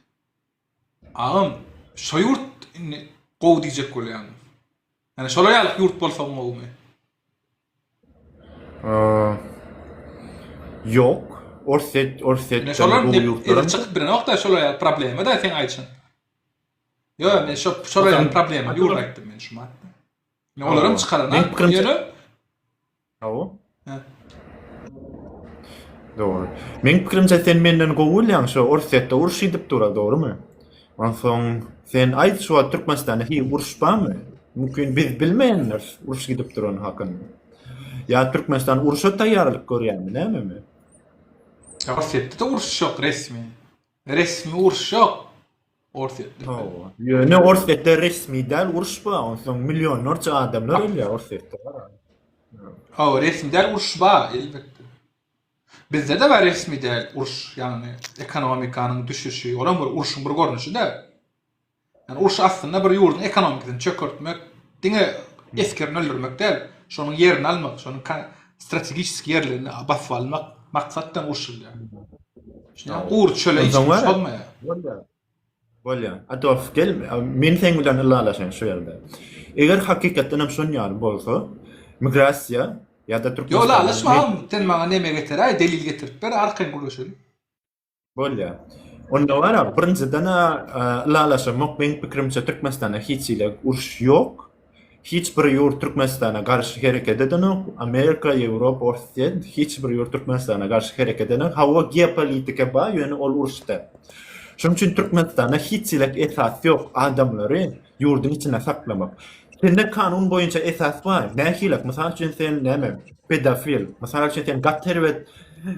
Speaker 3: agam şo ýurt indi gowy diýjek bolýan. Ýani şolar ýaly ýurt bolsa gowumy? Ýok.
Speaker 1: Orsýet, Orsýet. Indi şolar
Speaker 3: ýurtlar. Indi çykyp bilenokda şolar ýaly problema da seň aýdyşyň. Yo, men şu şolaryň problemi ýurda
Speaker 1: aýtdym men şu mat. Ne olaram çykaran. Men pikrim ýöne. Hawa. Dogry. Men pikrimçe sen menden gowy bolýaň şu Orsýetde uruş edip dur, dogrymy? Onsoň sen aýt şu wagt Türkmenistanda hiç uruş barmy? Mümkin biz bilmeýänler uruş gidip duran hakynda. Ýa Türkmenistan uruşa taýýarlyk görýärmi, näme? Orsýetde
Speaker 3: de uruş ýok resmi. Resmi uruş yok. Orsýetde. Hawa. Ýöne
Speaker 1: Orsýetde resmi däl uruş bar. Onsoň millionlarça adamlar ölýär Orsýetde. Hawa,
Speaker 3: resmi däl uruş bar elbetde. Bizde de bar resmi däl uruş, ýagny ekonomikanyň düşüşi, olam bir uruşyň bir görnüşi-de. Ýani uruş aslynda bir ýurduň ekonomikasini çökertmek, diňe esgerini öldürmek däl, şonuň ýerini almak, şonuň strategiski ýerlerini basyp almak maksat bilen uruşylýar. Şunuň gury çöle hiç kim çozmaýar. Bolýar.
Speaker 1: Bolýar. Adolf gel, men seň bilen ylalaşaýyn şu ýerde. Eger hakykatdan hem şon ýaly bolsa, migrasiýa ýa-da türkmen Ýok, ylalaşma, sen
Speaker 3: maňa neme getiräý, delil getirip ber, arkaýyn gürleşeliň. Bolýar.
Speaker 1: Onda gara, birinjiden-ä ylalaşamok. Meň pikirimçe, Türkmenistanda hiç hili uruş ýok. Hiç bir ýurt Türkmenistana garşy hereket edenok. Amerika, Ýewropa, Orsýet, hiç bir ýurt Türkmenistana garşy hereket edenok. Hawa, geopolitika bar, ýöne ol uruşda. Şonuň üçin Türkmenistanda hiç hili esas ýok. Adamlary ýurduň içinde saklamak. Sende kanun boýunça esas bar. Nähilak, mysal üçin sen näme? Pedofil. Mysal üçin sen gaty erbet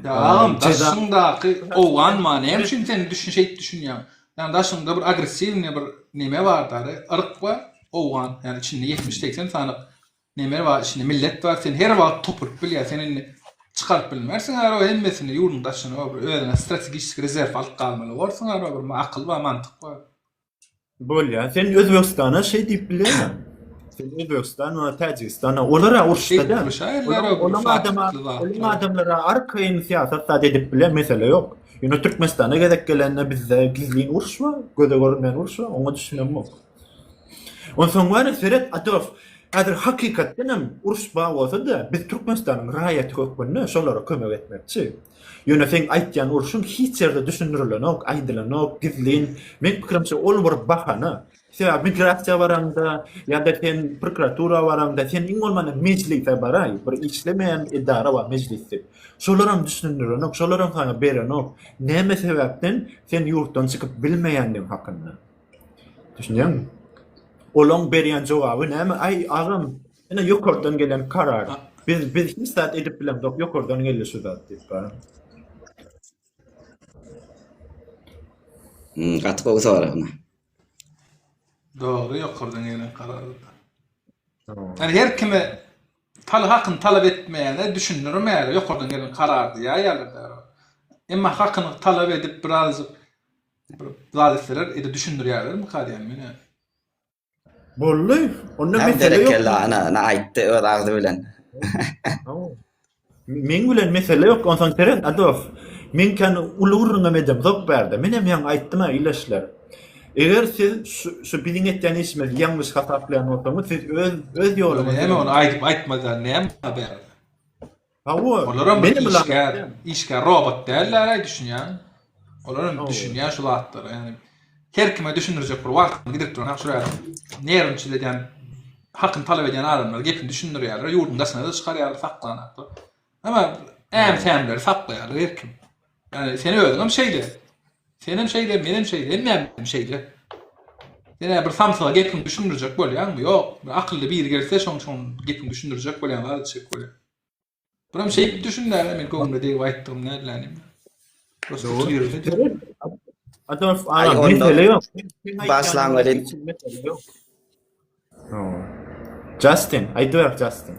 Speaker 1: Agam,
Speaker 3: daşyňdaky owgan ma, näme üçin sen düşün şeýt düşünýäň? Ýa daşyňda bir agressiwne bir neme bar dary, yryk bar, owgan. Ýani içinde ýetmiş, segsen sany neme bar, içinde millet bar, sen her wagt topulyp bilýär. Sen indi çykaryp bilmersiň araba hemmesini ýurduň daşyna, bir özüňe strategiski rezerw alyp galmaly borsuň araba, bir akyl bar, mantyk bar. Bolýar.
Speaker 1: Sen Özbegistana şey diýip bilýärmi? Sen Özbegistan we Täjigistan olar uruşda da. Olar adama, olar adamlara arkaýyn syýasat da edip bilýär, mesele ýok. Ýöne Türkmenistana gezek gelende bizde gizlin uruş bar, göze görünmeýän uruş bar, oňa düşünem ýok. Onsoň wara seret Adof, häzir hakykatdan hem uruş bar bolsa-da, biz Türkmenistanyň raýaty hökmünde şolara kömek etmekçi. Ýöne seň aýtýan urşuň hiç ýerde düşündirilenok, aýdylanok, gizlin. Meň pikirimçe ol bir bahana. Sebäbi migrasiýa baraňda ýa-da sen prokuratura baraňda sen iň bolmanda mejlise baraý, bir işlemeýän edara bar mejlis diýip. Şolaram düşündirenok, şolaram saňa berenok. Näme sebäpden sen ýurtdan çykyp bilmeýändigiň hakynda. Düşünýäňmi? Olaň berýän jogaby näme? Aý agam, Ine ýokardan gelen karar. Biz biz hiç zat edip bilemzok, ýokardan geldi şu zat diýip galan. Hmm,
Speaker 2: gaty gowy sorag. ine.
Speaker 3: Dogry ýokardan gelen karar. Yani her kime taly hakyny talap etmeýäne düşündiririm ýaly ýokardan gelen karar diýýär ýaly da. Emma hakyny talap edip birazjyk bir zat etseler, edip düşündirýärler mi kar yani meni.
Speaker 1: Bolly. Onda Hem mesele yok. berekella ana,
Speaker 2: ana
Speaker 1: aýtdy
Speaker 2: öz agzy bilen.
Speaker 1: Meň bilen mesele ýok. Onsoň seret Adof. Men kan uly gürrüňem edem zok bärde. Men hem ýaňy aýtdym-a ileşler. Eger siz şu- şu biziň etýän işimizi ýalňyş hasaplaýan bolsaňyz, siz öz öz ýoluňyzy Näme ony aýdyp aýtmadan
Speaker 3: näme bärde. Hawa.
Speaker 1: Olar hem işgär,
Speaker 3: işgär robot däller-aý düşünýän. Olar hem düşünýän şu zatlara. Ýani her kime düşündirjek bir wagtyny gidip duran şu ýerde. Nerwinçil edýän, hakyny talap edýän adamlar gepini düşündirýärler, ýurduň daşyna-da çykarýarlar, saklanýarlar. Emma äm-sämleri saklaýarlar her kim. Ýani sen özüňem şeýle. Senem şeýle, menem şeýle, hemmämiz şeýle. Senä bir samsyga gepiňi düşündirjek bolýaňmy? Ýok, bir akylly biri gelse şoň şoň gepiňi düşündirjek bolýan zat etjek bolýan. Buram şeýip düşünmäge men göwnüme degip aýtdygym nädlänim. Dostum ýöredi. Aýdorf
Speaker 1: aga, mesele ýok. Başlaň welin. Justin, aýdyber Justin.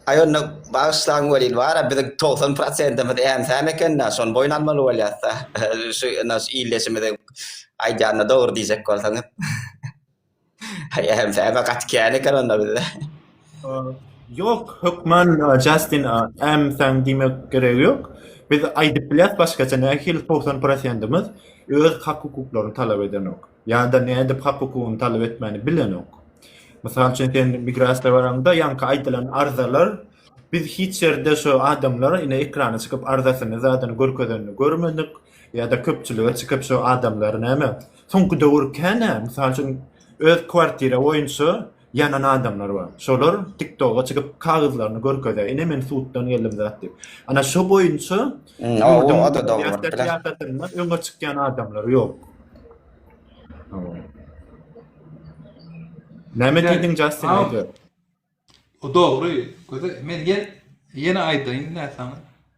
Speaker 2: Aý onda bagyşlaň welin bara biziň togsan prosentimiz äm-säm eken-dä, şony boýun almaly bolýas-da. Şu ene şu ildeşimiziň aýdýanyna dogry diýjek bolsaňyz. Aý äm-säm-ä gaty kän eken onda bizde.
Speaker 1: Ýok, hökman Justin äm-säm diýmek geregi ýok. Biz aýdyp bilýäs başgaça nähili togsan prosentimiz öz hak-hukuklaryny talap edenok. Ýa-da nädip hak-hukugyny talap etmäni bilenok. Mysal üçin, sen migrasiýa baraňda, ýaňky aýdylan arzalar, biz hiç ýerde şu adamlar ine ekrana çykyp arzasyny zadyny görkezenini görmedik, ýa-da köpçülige çykyp şu adamlar näme, soňky döwür kän-ä, mysal üçin, öz kwartira boýunça Ýanan adamlar bar. Şolar TikToga çykyp kagyzlaryny görkezýär. Ine men suddan geldim zat diýip. Ana şo boýunça ýurduň migrasiýa
Speaker 2: syýasatynda öňe
Speaker 1: çykýan adamlar ýok. Näme diýdiň Jastin aýda. O
Speaker 3: dogry. Göze men ýene aýdaýyn näsaňa.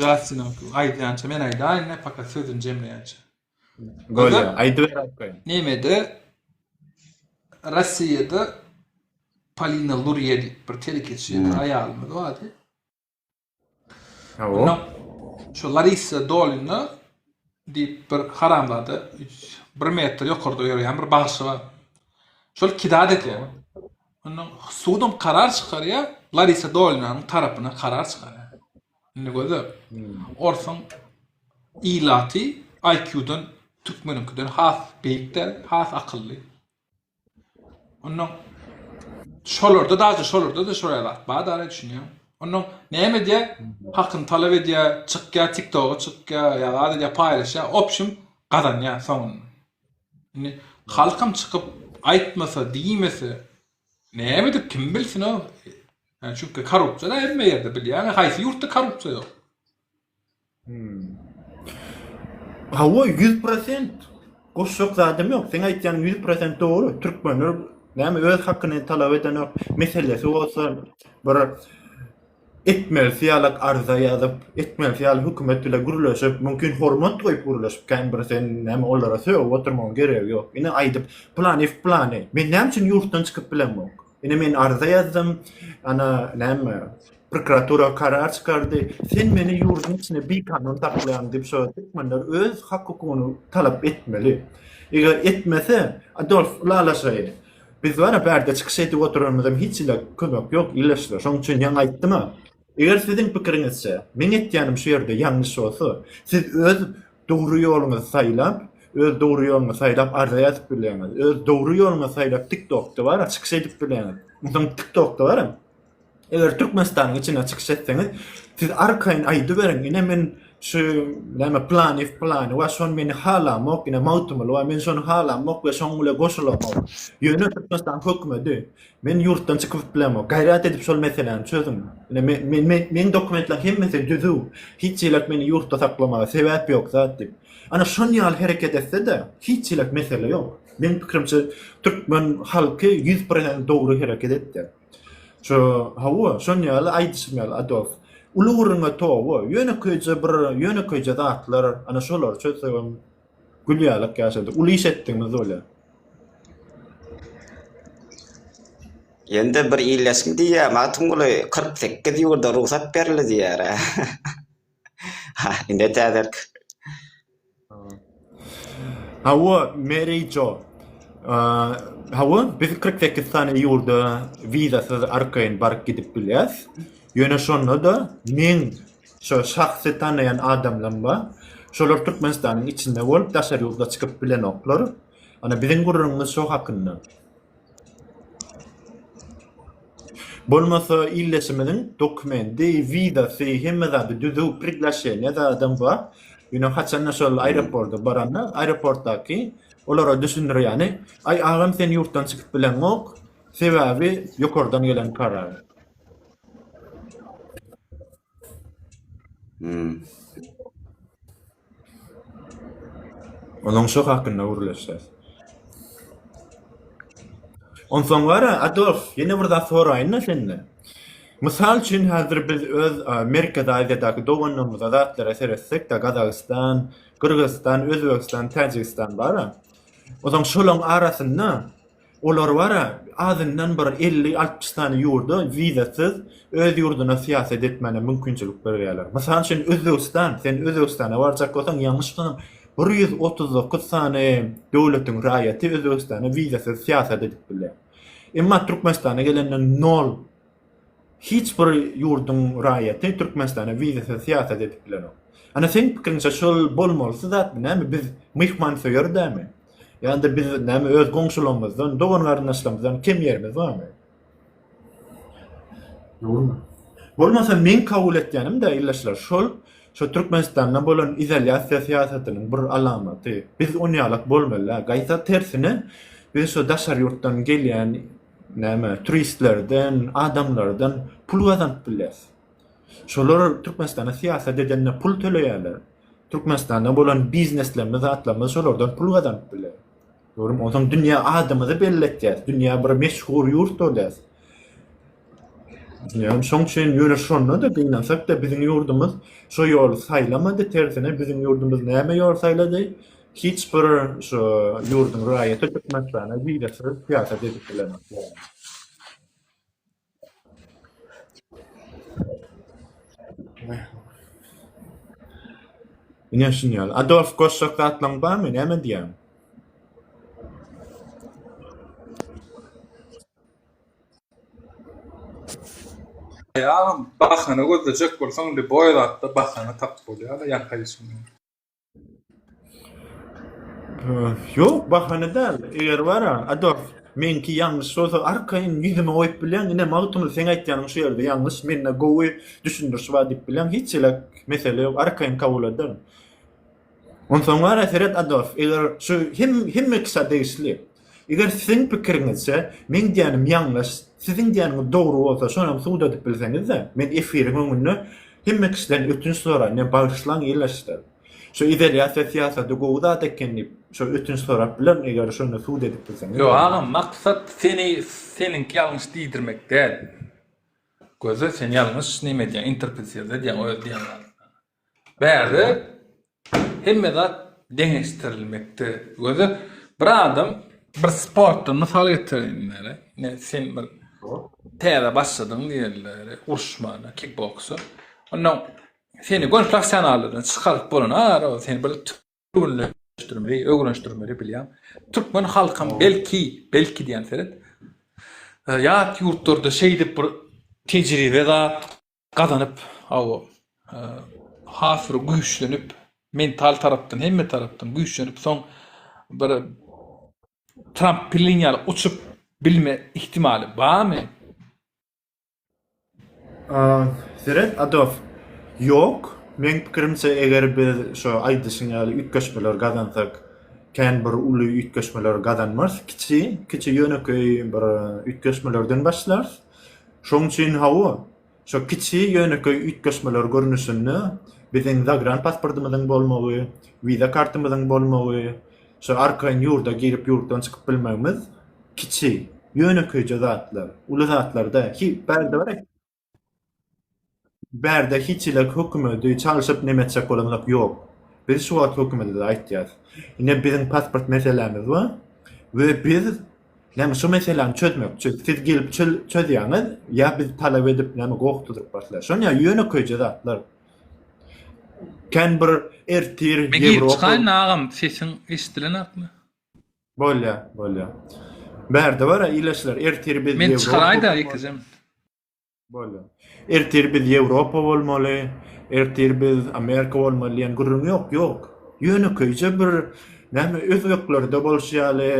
Speaker 3: Justin'in aýdýança men aýdaýyn, ne fakat sözüni jemleýänçe. Gol,
Speaker 1: aýdyp berip
Speaker 3: goýun.
Speaker 1: Nemede
Speaker 3: Russiýada Polina Lurýe diýip bir telekeçi hmm. aýalymyz bardy.
Speaker 1: Onda
Speaker 3: şu
Speaker 1: Larissa
Speaker 3: Dolina diýip bir haramzada bir metr ýokarda ýörýän bir bagşy bar. Şol kidad edýär. Onda sudum karar çykarýar, Larissa Dolinanyň tarapyna karar çykarýar. Indi gözle. Orsuň ilaty IQ-dan türkmeniňkiden has beýik däl, has akylly. Ondan şolarda da, şolarda da şoýa zat bar da, düşünýäň. Ondan näme edýär? Hakyny talap edýär, çykýar, TikTok-a çykýar, ýa zat edýär, paýlaşýar, opşim gazanýar soňunda. Indi halkam çykyp aýtmasa, diýmese, näme edip kim bilsin o? Çünki korrupsiýa da hemme ýerde bilýäňiz, haýsy ýurtda korrupsiýa ýok?
Speaker 1: Hawa ýüz prosent goşjak zadym ýok. Seň aýtýanyň ýüz prosent dogry. Türkmenler näme öz hakyny talap edenok. Meselesi bolsa bir etmelisi ýaly arza ýazyp, etmelisi ýaly hökümet bilen gürleşip, mümkin hormat goýup gürleşip, kän bir sen näme olara sögüp oturmagyň geregi ýok. Ine aýdyp, planiw planiw. Men näme üçin ýurtdan çykyp bilemok? Ine men arza ýazdym. Ana näme? Prokuratura karar çykardy. Sen meni ýurduň içinde bikanun saklaýaň diýip şo türkmenler öz hak-hukugyny talap etmeli. Eger etmese, Adolf ylalaşaýyn. Biz bar-a bärde çykyş edip oturanymyzam hiç ile kömek ýok, ileşler. Şonuň üçin ýaňy aýtdym-a. Eger siziň pikiriňizçe, meň etýänim şu ýerde ýalňyş bolsa, siz öz dogry ýoluňyzy saýlap, öz dogry ýoluňy saýlap arza ýazyp bilýäňiz. Öz dogry ýoluňy saýlap TikTokda bara çykyş edip bilýäňiz. Onsoň TikTokda bara eger Türkmenistanyň içinde çykyş etseňiz, siz arkaýyn aýdyberiň, ine men şu näme planiw plany we şony meni halamok, ine Magtymguly we men şony halamok we şoň bile goşulamok. Ýöne Türkmenistanyň hökümeti Men ýurtdan çykyp bilemok. Gaýrat edip şol meseläni çözüň. Ine men men men meň dokumentler hemmesi düzüw. Hiç çilek meni ýurtda saklamaga sebäp ýok zat diýip. Ana şon ýaly hereket etsede hiç çilek mesele ýok. Meň pikirimçe türkmen halky ýüz pirsent dogry hereket etdi. Şu hawa şon ýaly aýdyşym ýaly Adolf. Uly gürrüňe toba ýönekeýje bir ýönekeýje zatlar ana şolary çözsegem Gül ýalak ýaşady. Uly iş etdiňiz bolýa.
Speaker 2: Ýöne bir iýleşim diýýär, Magtymguly kyrk sekiz ýurda rugsat berildi diýýär-ä. Ha, ine täzelik.
Speaker 1: Hawa, Mary Jo. Hawa, biz kyrk sekiz sany ýurda wizasyz arkaýyn baryp gidip bilýäs. Ýöne şonda-da meň Şo şahsy tanaýan adamlam bar. Şolar Türkmenistanyň içinde bolup daşary ýurda çykyp bilenoklar. Ana biziň gürrüňimiz şo hakynda. Bolmasa illeşimiziň dokumendi, wizasy, hemme zady düzüw, priglaşeniýa zadam bar. Ýöne haçanda şol aeroporta baranda, aeroportdaky olara düşündirýäni, Aý agam sen ýurtdan çykyp bileňok, sebäbi ýokardan gelen karar. Hmm. Onuň şu hakynda gürleşýär. Onsoň gara, Adolf, ýene bir zat soraýyn-da sende. Mysal üçin, häzir biz öz a, Merkezi Aziýadaky doganlarymyza, zatlara seretsek-de, Gazagystan, Gyrgyzystan, Özbegistan, Täjigistan bar-a. Onsoň şolaryň arasynda Olar bar-a, azyndan bir elli-altmyş sany ýurda wizasyz öz ýurduna syýasat etmäne mümkinçilik berýärler. Mysal üçin, Özbegistan. Sen Özbegistana barjak bolsaň, ýalňyşmasam, bir ýüz otuz dokuz sany döwletiň raýaty Özbegistana wizasyz syýasat edip bilýär. Emma Türkmenistana gelende nol. Hiç bir ýurduň raýaty Türkmenistana wizasyz syýasat edip bilenok. Ana seň pikiriňçe şol bolmalysy zatmy näme biz myhmansöýer dämi? Ýa-da biz näme öz goňşularymyzdan, dogan garyndaşlarymyzdan kem ýerimiz barmy? Dogrymy? Bolmasa meň kabul etýänim däl ildeşler şol şu Türkmenistanda bolan izolýasiýa syýasatynyň bir alamaty. Biz onýalak bolmaly däl. Gaýta tersine biz şu daşary ýurtdan gelýän näme turistlerden, adamlardan pul gazanyp bilýäs. Şolar Türkmenistana syýasat edende pul töleýärler. Türkmenistanda bolan bizneslerimiz, zatlarymyz şolardan pul gazanyp bilýär. Görüm, onsoň dünýä adymyzy belli etýäs, dünýä bir meşhur ýurt bolýas. Düşünýäňmi? Şoň üçin ýöne şonda-da gynansak-da biziň ýurdumyz şo ýoly saýlamady, tersine biziň ýurdumyz näme ýol saýlady? Hiç bir şu ýurduň raýaty Türkmenistana wizasyz syýahat edip bilenok ýaly. Ine şuny ýaly. Adolf goşjak zatlaň barmy? Näme diýýäň?
Speaker 3: Aý agam, bahana gözlejek bolsaň, lýuboý zatda bahana tapyp bolýar-da, ýanka işiňden.
Speaker 1: Yok bahane däl. Eger bara, Adolf, menki ýalňyş bolsa arkaýyn ýüzüme goýup bilýän, ine Magtymly sen aýtýanyň şu ýerde ýalňyş, mende gowy düşündiriş bar diýip bilýän, hiç elek mesele ýok, arkaýyn kabul ederin. Onsoň bara seret Adolf, eger şu hem hemme kişä degişli. Eger siziň pikiriňizçe, meň diýýänim ýaňlaş, siziň diýýäniňiz dogry bolsa, şonam subut edip bilseňiz-de, men efiriň öňünde hemme kişiden ötünç soraýyn, meni bagyşlaň ildeşler. Şu izolýasiýa syýasaty gowy zat eken diýip, şo ötünç sorap bilerin, eger şony subut edip bilseňiz. Ýok, agam, maksat
Speaker 3: seni seniňki ýalňyş diýdirmek däl. Göze sen ýalňyş neme edýäň, interpretirde edýäň öz diýen zadyňy. Bärde hemme zat deňeşdirilmekde. Göze bir adam bir sportdan mysal getireýin diýeli. Ine sen bir täze başladyň diýeli uruşmana, kikboksa. Ondan seni göni professionallardan çykaryp bolan ara ol seni bir türgenleşdirmeli, öwrenişdirmeli bilýän. Türkmen halkam belki, belki diýen seret ýat ýurtlarda şeýdip bir tejribe zat gazanyp, hawa, has bir güýçlenip, mental tarapdan, hemme tarapdan güýçlenip, soň bir Tramp pilin ýaly uçup bilme ihtimaly barmy?
Speaker 1: Seret Adof, ýok. Meň pikirimçe, eger biz şu aýdyşyň ýaly üýtgeşmeleri gazansak, kän bir uly üýtgeşmeleri gazanmarys, kiçi, kiçi ýönekeý bir üýtgeşmelerden başlarys. Şoň üçin hawa, şo kiçi ýönekeý üýtgeşmeler görnüşinde biziň zagran pasportymyzyň bolmagy, wiza kartymyzyň bolmagy, şo arkaýyn ýurda girip ýurtdan çykyp bilmegimiz kiçi, ýönekeýje zatlar, uly zatlar däl. Ki bärde bar. Bärde hiçilik hökümedi çalşyp neme etjek bolanlak ýok. Biz şu wagt hökümede-de aýtýas. Ine biziň pasport meselämiz bar we biz näme şu meseläni çözmek üçin siz gelip çözýäňiz ýa biz talap edip näme gowukdyryp başlaýas. Şony ýa ýönekeýje zatlar. Kän bir ertir Men girip çykaýyn
Speaker 3: agam sesiň eşdilenakmy. Bolýar
Speaker 1: bolýar. Bärde bar-a ilaçlar ertir biz Ýewropa. Men çykaraýda ýekeje. Bolýar. Ertir biz Ýewropa bolmaly, ertir biz Amerika bolmaly diýen gürrüň ýok, ýok. Ýönekeýje bir näme özbeklerde bolşy ýaly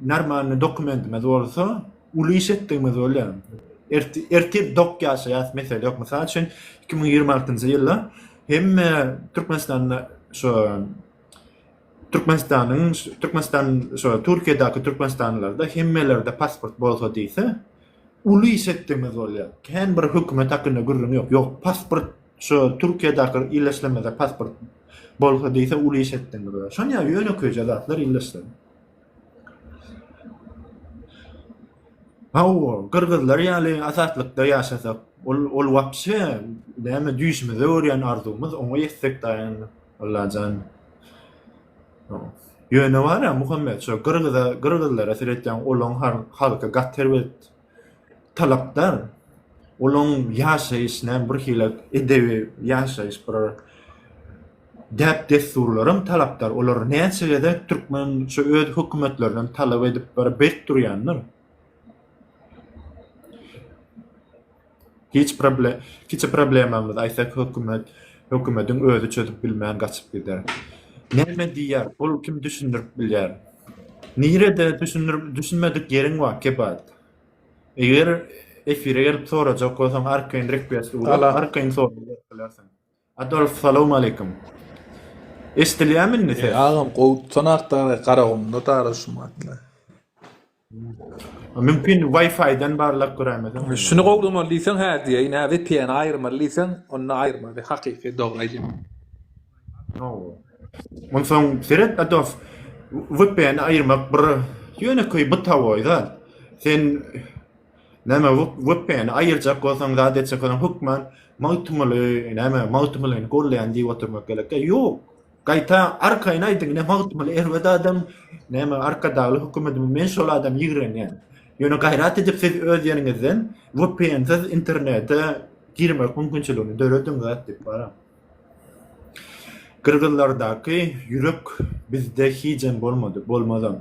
Speaker 1: normalny dokumentimiz bolsa, uly iş etdigimiz bolýar. Ertir dok ýaşaýas mesele ýok. Mysal üçin iki müň ýigrimi altynjy ýylda hemme Türkmenistanda şo Türkmenistanyň Türkmenistan şo Türkiýedäki türkmenistanlylarda hemmelerde pasport bolsa diýse, uly şekdemiz bolýar. Kän bir hökümet hakynda gürrüň ýok. Ýok, pasport şu Türkiýedaki illeşlemede pasport bolsa diýse uly şekdemiz bolýar. Şony ýa ýönekeýje zatlar illeşsem. Hawa, gyrgyzlar ýaly azatlykda ýaşasak, ol ol wapşe näme düýşümize görýän arzuwymyz, oňa ýetsek daýandyk. Allajan. Ýöne bar ýa Muhammet şo gyrgyza gyrgyzlara seretýäň olaň halky gaty erbet talapdar olaň ýaşaýyş näme bir hili edebi ýaşaýyş bir däp dessurlaram talapdar olar näçe gezek türkmen şo öz hökümetlerinden talap edip bir berk durýandyr. Kiçi problemamyzy aýtsak hökümet, hökümediň özi çözüp bilmän gaçyp gider. Näme diýýär ol kim düşündirip bilýär. Nirede düşünmedik ýeriň bar kebaýt. Eger efire gelip sorajak bolsaň arkaýyn rekbest ugra arkaýyn sorag berip bilersiň. Adolf salowmaleýkim.
Speaker 3: Eşdilýärmi
Speaker 1: indi ses? Agam
Speaker 3: gowy tutanak dagy Garagumda dagy şu
Speaker 1: mahalle. Mümkin Wi-Fi-den barlap göräýmesem. Şuny gowlamaly diýseň
Speaker 3: hä diýeýin, hä VPN-i aýyrmaly diýseň, onda aýyrmaly, hakyky dogry aýdýan.
Speaker 1: Onsoň seret Adolf, VPN-i aýyrmak bir ýönekeý bytawoý zat. Sen Näme bu wepäni aýyrjak bolsaň zat etjek bolsaň hökman Magtymguly näme Magtymgulyny golleýän diýip oturmak gerekkä ýok. Gaýta arkaýyn aýdyň ine Magtymguly erbet adam näme arkadagly hökümetimiz men şol adam ýigrenýän. Ýöne gaýrat edip siz öz ýeriňizden wepänsiz internete girmek mümkinçiligini dörediň zat edip baram. Gyrgyzlardaky ýürek bizde hijem bolmady, bolmazam.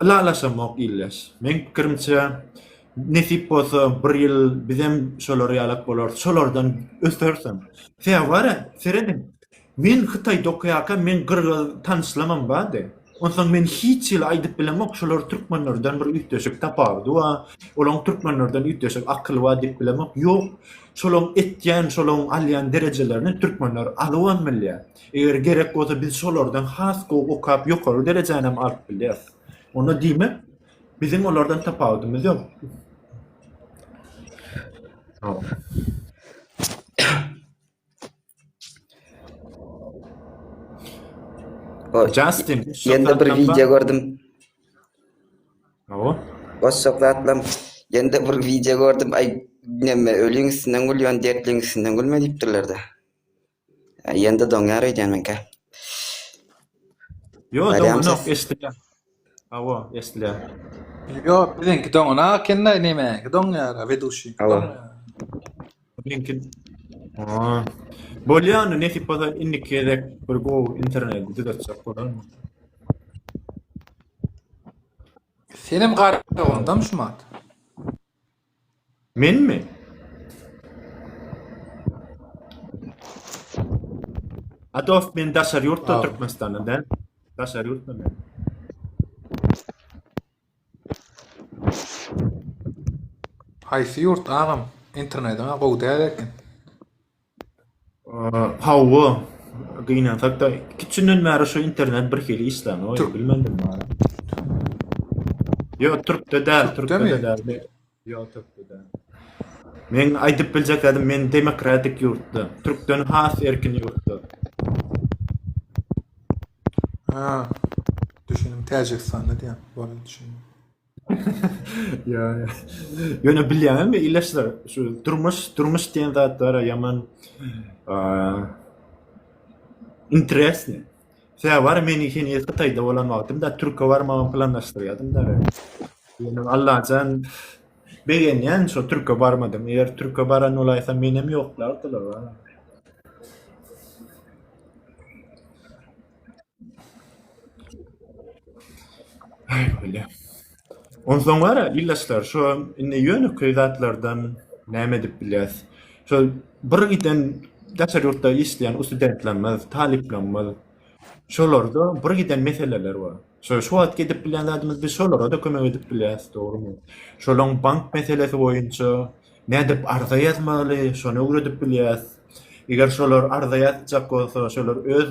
Speaker 1: Ylalaşamok ildeş. Meň pikirimçe, nesip bolsa bir ýyl bizem şolar ýalak bolarys, şolardan ösersem. Sebäri serediň, men Hytaýda okaýarka men gyrgyz tanyşlaram bady. Onsoň men hiç hili aýdyp bilemok, şolar türkmenlerden bir üýtgeşik tapawudy bar, olaň türkmenlerden üýtgeşik akyly bar diýip bilemok. Ýok, şolaň etýän, şolaň alýan derejelerini türkmenler alybam bilýär. Eger gerek bolsa biz şolardan has gowy okap ýokary derejänem alyp bilýäris. Onda diýmek, biziň olardan tapawudymyz ýok. Justin. Ýende bir wideo
Speaker 2: gördüm.
Speaker 1: Awa. Başak
Speaker 2: zatlam. Ýende bir wideo gördüm. Aý, näme ölüň üstünden gülýän, dertliň üstünden gülme diýipdirler-de. Ýende doňýar öýdýän menkä.
Speaker 1: Ýok, doňýok, eşdilýär. Hawa eslän. Ýo
Speaker 3: biziňki doňana ekendä nemäňki doňýara weduşiňki doňýara.
Speaker 1: Meňki Haa. Bolýa onda nesip bolsa indiki gezek bir gowy interneti düzetjek bolaryn.
Speaker 3: Senem garagandam şumat.
Speaker 1: Menmi? A dost men daşary ýurtda Türkmenistanda däl. Daşary ýurtda men.
Speaker 3: Haýsy ýurt agam? Internetiňa gowy däl eken.
Speaker 1: Hawa, gynansak-da, iki-üç günden bäri şu internet birhili işlän, oý, bilmedim wara. Ýok, türkde däl, türkde-de däl. Ýok, türkde däl. Men aýdyp biljek zadymy, men demokratik ýurtda, türkden has erkin ýurtda.
Speaker 3: Ha, düşündim, Täjigistanda diýýän, boldy, düşündim.
Speaker 1: Ýöne ýöne bilýäňmi illaçlar şu durmuş durmuş diýen zat bara ýaman eee, interesni. Sä bar meni heniz Hytaýda bolan wagtymda türke barmagy planlaşdyrýadym-da. Ýöne Allajan begenýän şo türke barmadym. Eger türke baran bolaýsam menem ýoklardylar-a. Öýle. Onsoň gara, ildeşler, şu indi ýönekeý zatlardan näme edip bilýäs? Şu bir giden daşary ýurtda işleýän ussudentlerimiz, talyplarymyz, şolarda bir giden meseleler bar. Şu şu wagt edip bilýän zadymyz biz şolara-da kömek edip bilýäs, dogrumy? Şolaryň bank meselesi boýunça Nädip arza ýazmaly, şony öwredip bilýäs. Eger şolar arza ýazjak bolsa, şolar öz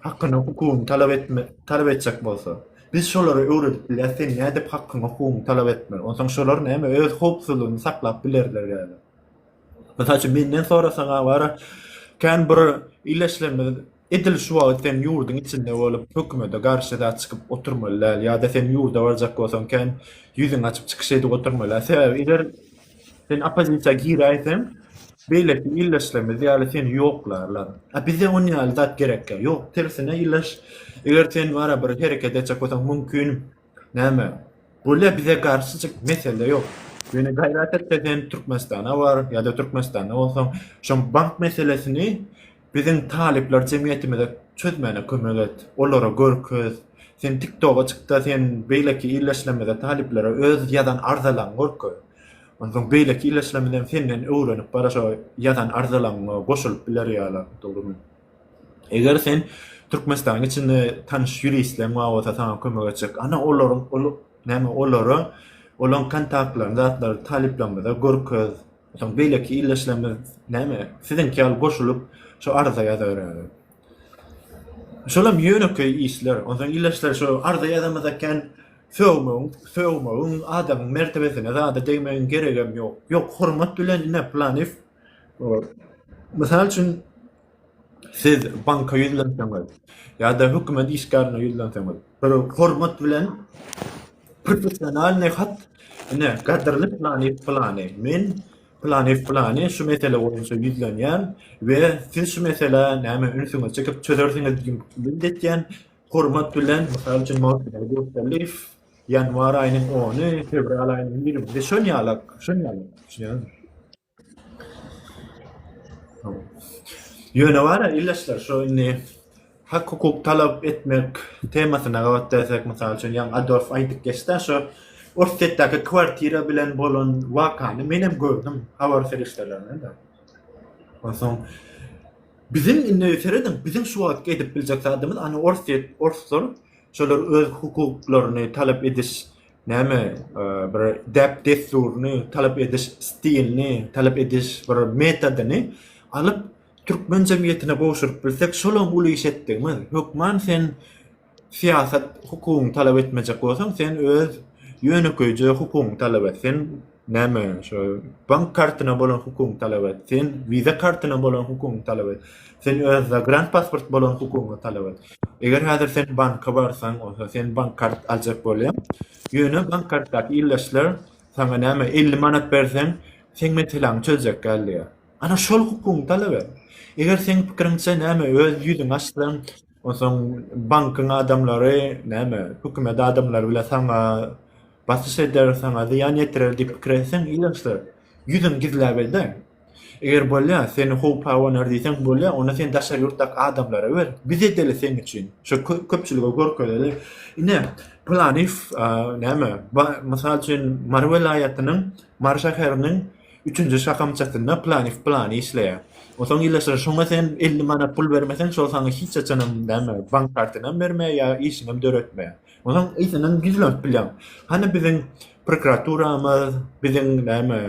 Speaker 1: hakyny, hukugyny talap etme, talap etjek bolsa. Biz şolara öwredip bilýäs, sen nädip hakyňy, hukugyňy talap etme. Onsoň şolar näme, öz howpsuzlygyny saklap bilerler ýaly. Mysal üçin, menden sorasaň-a, wara, kän bir ile işlemez, Edil şu wagt sen ýurduň içinde bolup hökümede garşy zat çykyp oturmaly däl ýa-da sen ýurda barjak bolsaň kän ýüzüňi açyp çykyş edip oturmaly sebäbi eger sen oppozisiýa giräýseň beýleki ildeşlerimiz ýaly seni ýoklarlar a bize on ýaly zat gerekkä ýok tersine ildeş eger sen bara bir hereket etjek bolsaň mümkin näme bolýa bize garşy çyk mesele ýok ýöne gaýrat et sen türkmenistana bar ýa-da türkmenistanda bolsaň şoň bank meselesini Biziň talyplar jemgyýetimize çözmäne kömek et, olara görkez. Sen tiktoga çykda sen beýleki illeşlemizde talyplara öz ýazan arzalaň görkez. Onsoň beýleki illeşlemizem senden öwrenip bara şo ýazan arzalaňyňa goşulyp biler ýala dogrymy. Eger sen Türkmenistanyň içinde tanyş ýuristleň bar bolsa saňa kömek etjek. Ana olaryň ol näme olara olaň kontaktlaryny zatlaryny talyplarymyza görkez. Soň beýleki ildeşlerimiz näme, siziňki ýaly goşulyp, şo arza ýazabererler. Şolam ýönekeý işler. Onsoň ildeşler şo arza ýazamyz eken, sögmegiň, sögmegiň, adamyň mertebesine zada degmegiň geregem ýok. Ýok, hormat bilen ine, planiw, o, mysal üçin, Siz banka ýüzlenseňiz ýa-da hökümet işgärine ýüzlenseňiz, bir hormat bilen professionalnyý hat, ine, gadyrly planyýew-plany, men planyýew-plany şu mesele boýunça ýüzlenýän we siz şu meselä näme ünsüňizi çekip çözersiňiz diýip ümit edýän, hormat bilen, mysal üçin, Magtymguly Durdyýew, ýanwar aýynyň ony, fewral aýynyň ýigrimi biri, şon ýalak, şon ýalak, düşünýäňizmi? Ýöne bar-a, ildeşler, şu indi hak-hukuk talap etmek temasyna gabat gelsek, mysal üçin, ýaňy Adolf aýdyp geçdi-ä, şu Orsýetdäki kwartira bilen bolan wakany menem gördüm habar serişdelerinde-de. Onsoň, biziň indi, serediň, biziň şu wagtky edip biljek zadymyz, ony orsýet, orslar şolar öz hukuklaryny talap ediş näme bir däp-dessuryny talap ediş stilini, talap ediş bir metodyny alyp türkmen jemgyýetine gowşuryp bilsek şolam uly iş etdigimiz. Hökman sen syýasat hukugyny talap etmejek bolsaň sen öz ýönekeýje hukugyňy talap et. Sen Näme şo bank kartyna bolan hukugyňy talap et. Sen viza kartyna bolan hukugyňy talap et. Sen öz zagrant pasport bolan hukugyňy talap et. Eger häzir sen banka barsaň, olsa sen bank kart aljak bolýaň. Ýöne bank kartdaky ildeşler sana näme 50 manat berseň, sen meseläňi çözjek gelýär. Ana şol hukugyňy talap et. Eger seň pikiriňçe näme öz ýüzüňi açsaň, onsoň bankyň adamlary näme hökümet adamlary bilen sana Basyş eder, saňa zyýan ýetirer diýip pikir etseň, ilaçsyz. Ýüzüňi gizläp elden. Eger bolýa, seni howp abanar diýseň, bolýa, onda sen daşary ýurtdaky adamlara ber. Biz edeli seň üçin. Şo köpçülige görkezeli. Ine, pylany näme, mysal üçin, Mary welaýatynyň Mary şäheriniň üçünji şahamçasynda pylany pylany işleýär. Onsoň ilaçsyz. Şoňa sen elli manat pul bermeseň, şol saňa hiç haçanam näme, bank kartyny hem bermeýär ýa işiňem döretmeýär. Onuň yzyndan gizlenip bilýäň. Hany biziň prokuraturamyz, biziň näme,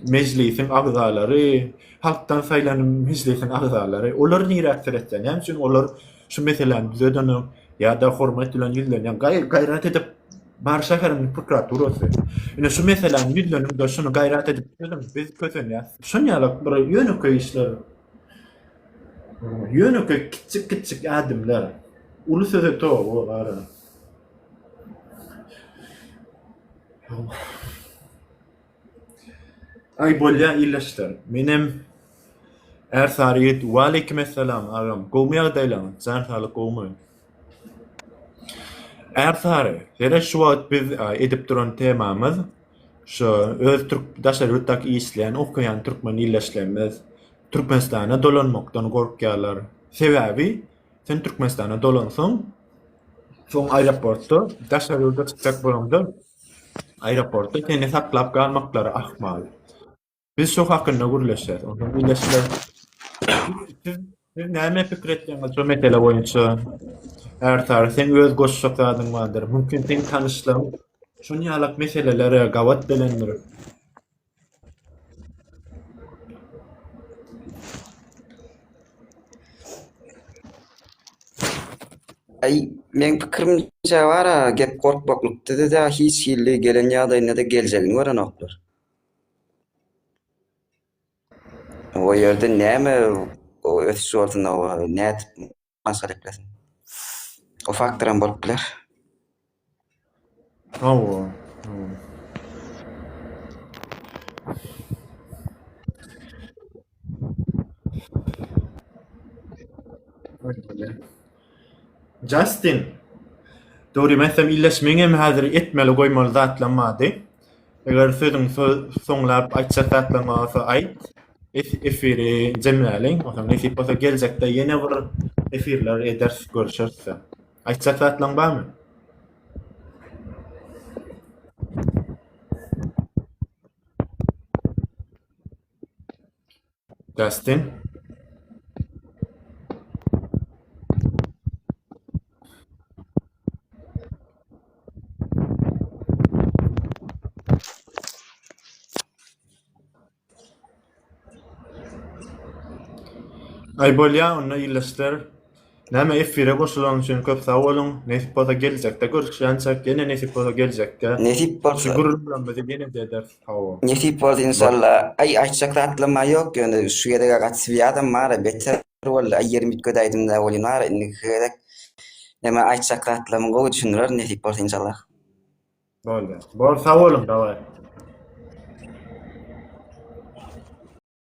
Speaker 1: mejlisiň agzalary, halkdan saýlan mejlisiň agzalary, olar nirä seretýär? Näme üçin olar şu meseläni düzedenok ýa-da hormat bilen ýüzlenýär? Gaý, gaýrat edip bar şäherimiziň prokuraturasy. Ine şu meseläni ýüzleniň-de, şuny gaýrat edip düzediň, biz kösenýäs. Şuny ýaly bir ýönekeý işler Ýönekeý kiçjik-kiçjik ädimler uly söze toba bolar. Aý bolýa ildeşler menem är sary ýet Waleýkim essalam agam gowmy ýagdaýlaň jan saglyk gowmy. Är sary ýere şu wagt biz edip duran temamyz. şu öz türk daşary ýurtdaky işleýän, okaýan türkmen ildeşlerimiz Türkmenistana dolanmakdan gorkýarlar. Sebäbi sen Türkmenistana dolansaň, soň aeroportda daşary ýurda çykjak bolanda aeroportda seni saklap galmaklary ahmal. Biz şu hakynda gürleşýäris. Onsoň birleşme siz siz näme pikir etýäňiz şu mesele boýunça? Ertar, sen öz goşjak zadyň bardyr. Mümkin sen tanyşlaryň şuny ýalak meselelere gabat gelendir.
Speaker 2: Ay, men pikirimce var ha, gep korkmaklykda da hiç hilli gelen ýagdaýynda da geljegini görenoklar. O ýerde näme ösüş bolsun, nädip maşgala eklesin? O faktor hem bolup biler.
Speaker 1: Hawa, hawa. Justin. Dogry meselem iýleşmeňem häzir etmeli goýmaly zatlam bardy. Eger sözüň soňlap aýtjak zatlaň bolsa aýt. Efiri jemläliň. Oňa nesip bolsa geljekde ýene bir efirler ederis, görüşeris. Aýtjak zatlaň barmy? Dustin. Aý bolýa onda ýylyşdyr. Näme efire goşulanyň üçin köp sag boluň nesip bolsa geljekde görüşýänçäk ýene nesip bolsa geljekde Nesip bolsa. Şu
Speaker 2: gürrüňlerimizi ýene-de
Speaker 1: ederis hawa. Nesip bolsa inşalla.
Speaker 2: Aý aýtjak zatlamma ýok ýöne şu gezegä gaty swýazam bara beter boldy aý ýerim üýtgedäýdimdä welin bara indiki gezek näme aýtjak zatlamyň gowy düşündirerin nesip bolsa
Speaker 1: inşallah.
Speaker 2: Boldy.
Speaker 1: Bor
Speaker 2: sag boluň
Speaker 1: dawaý.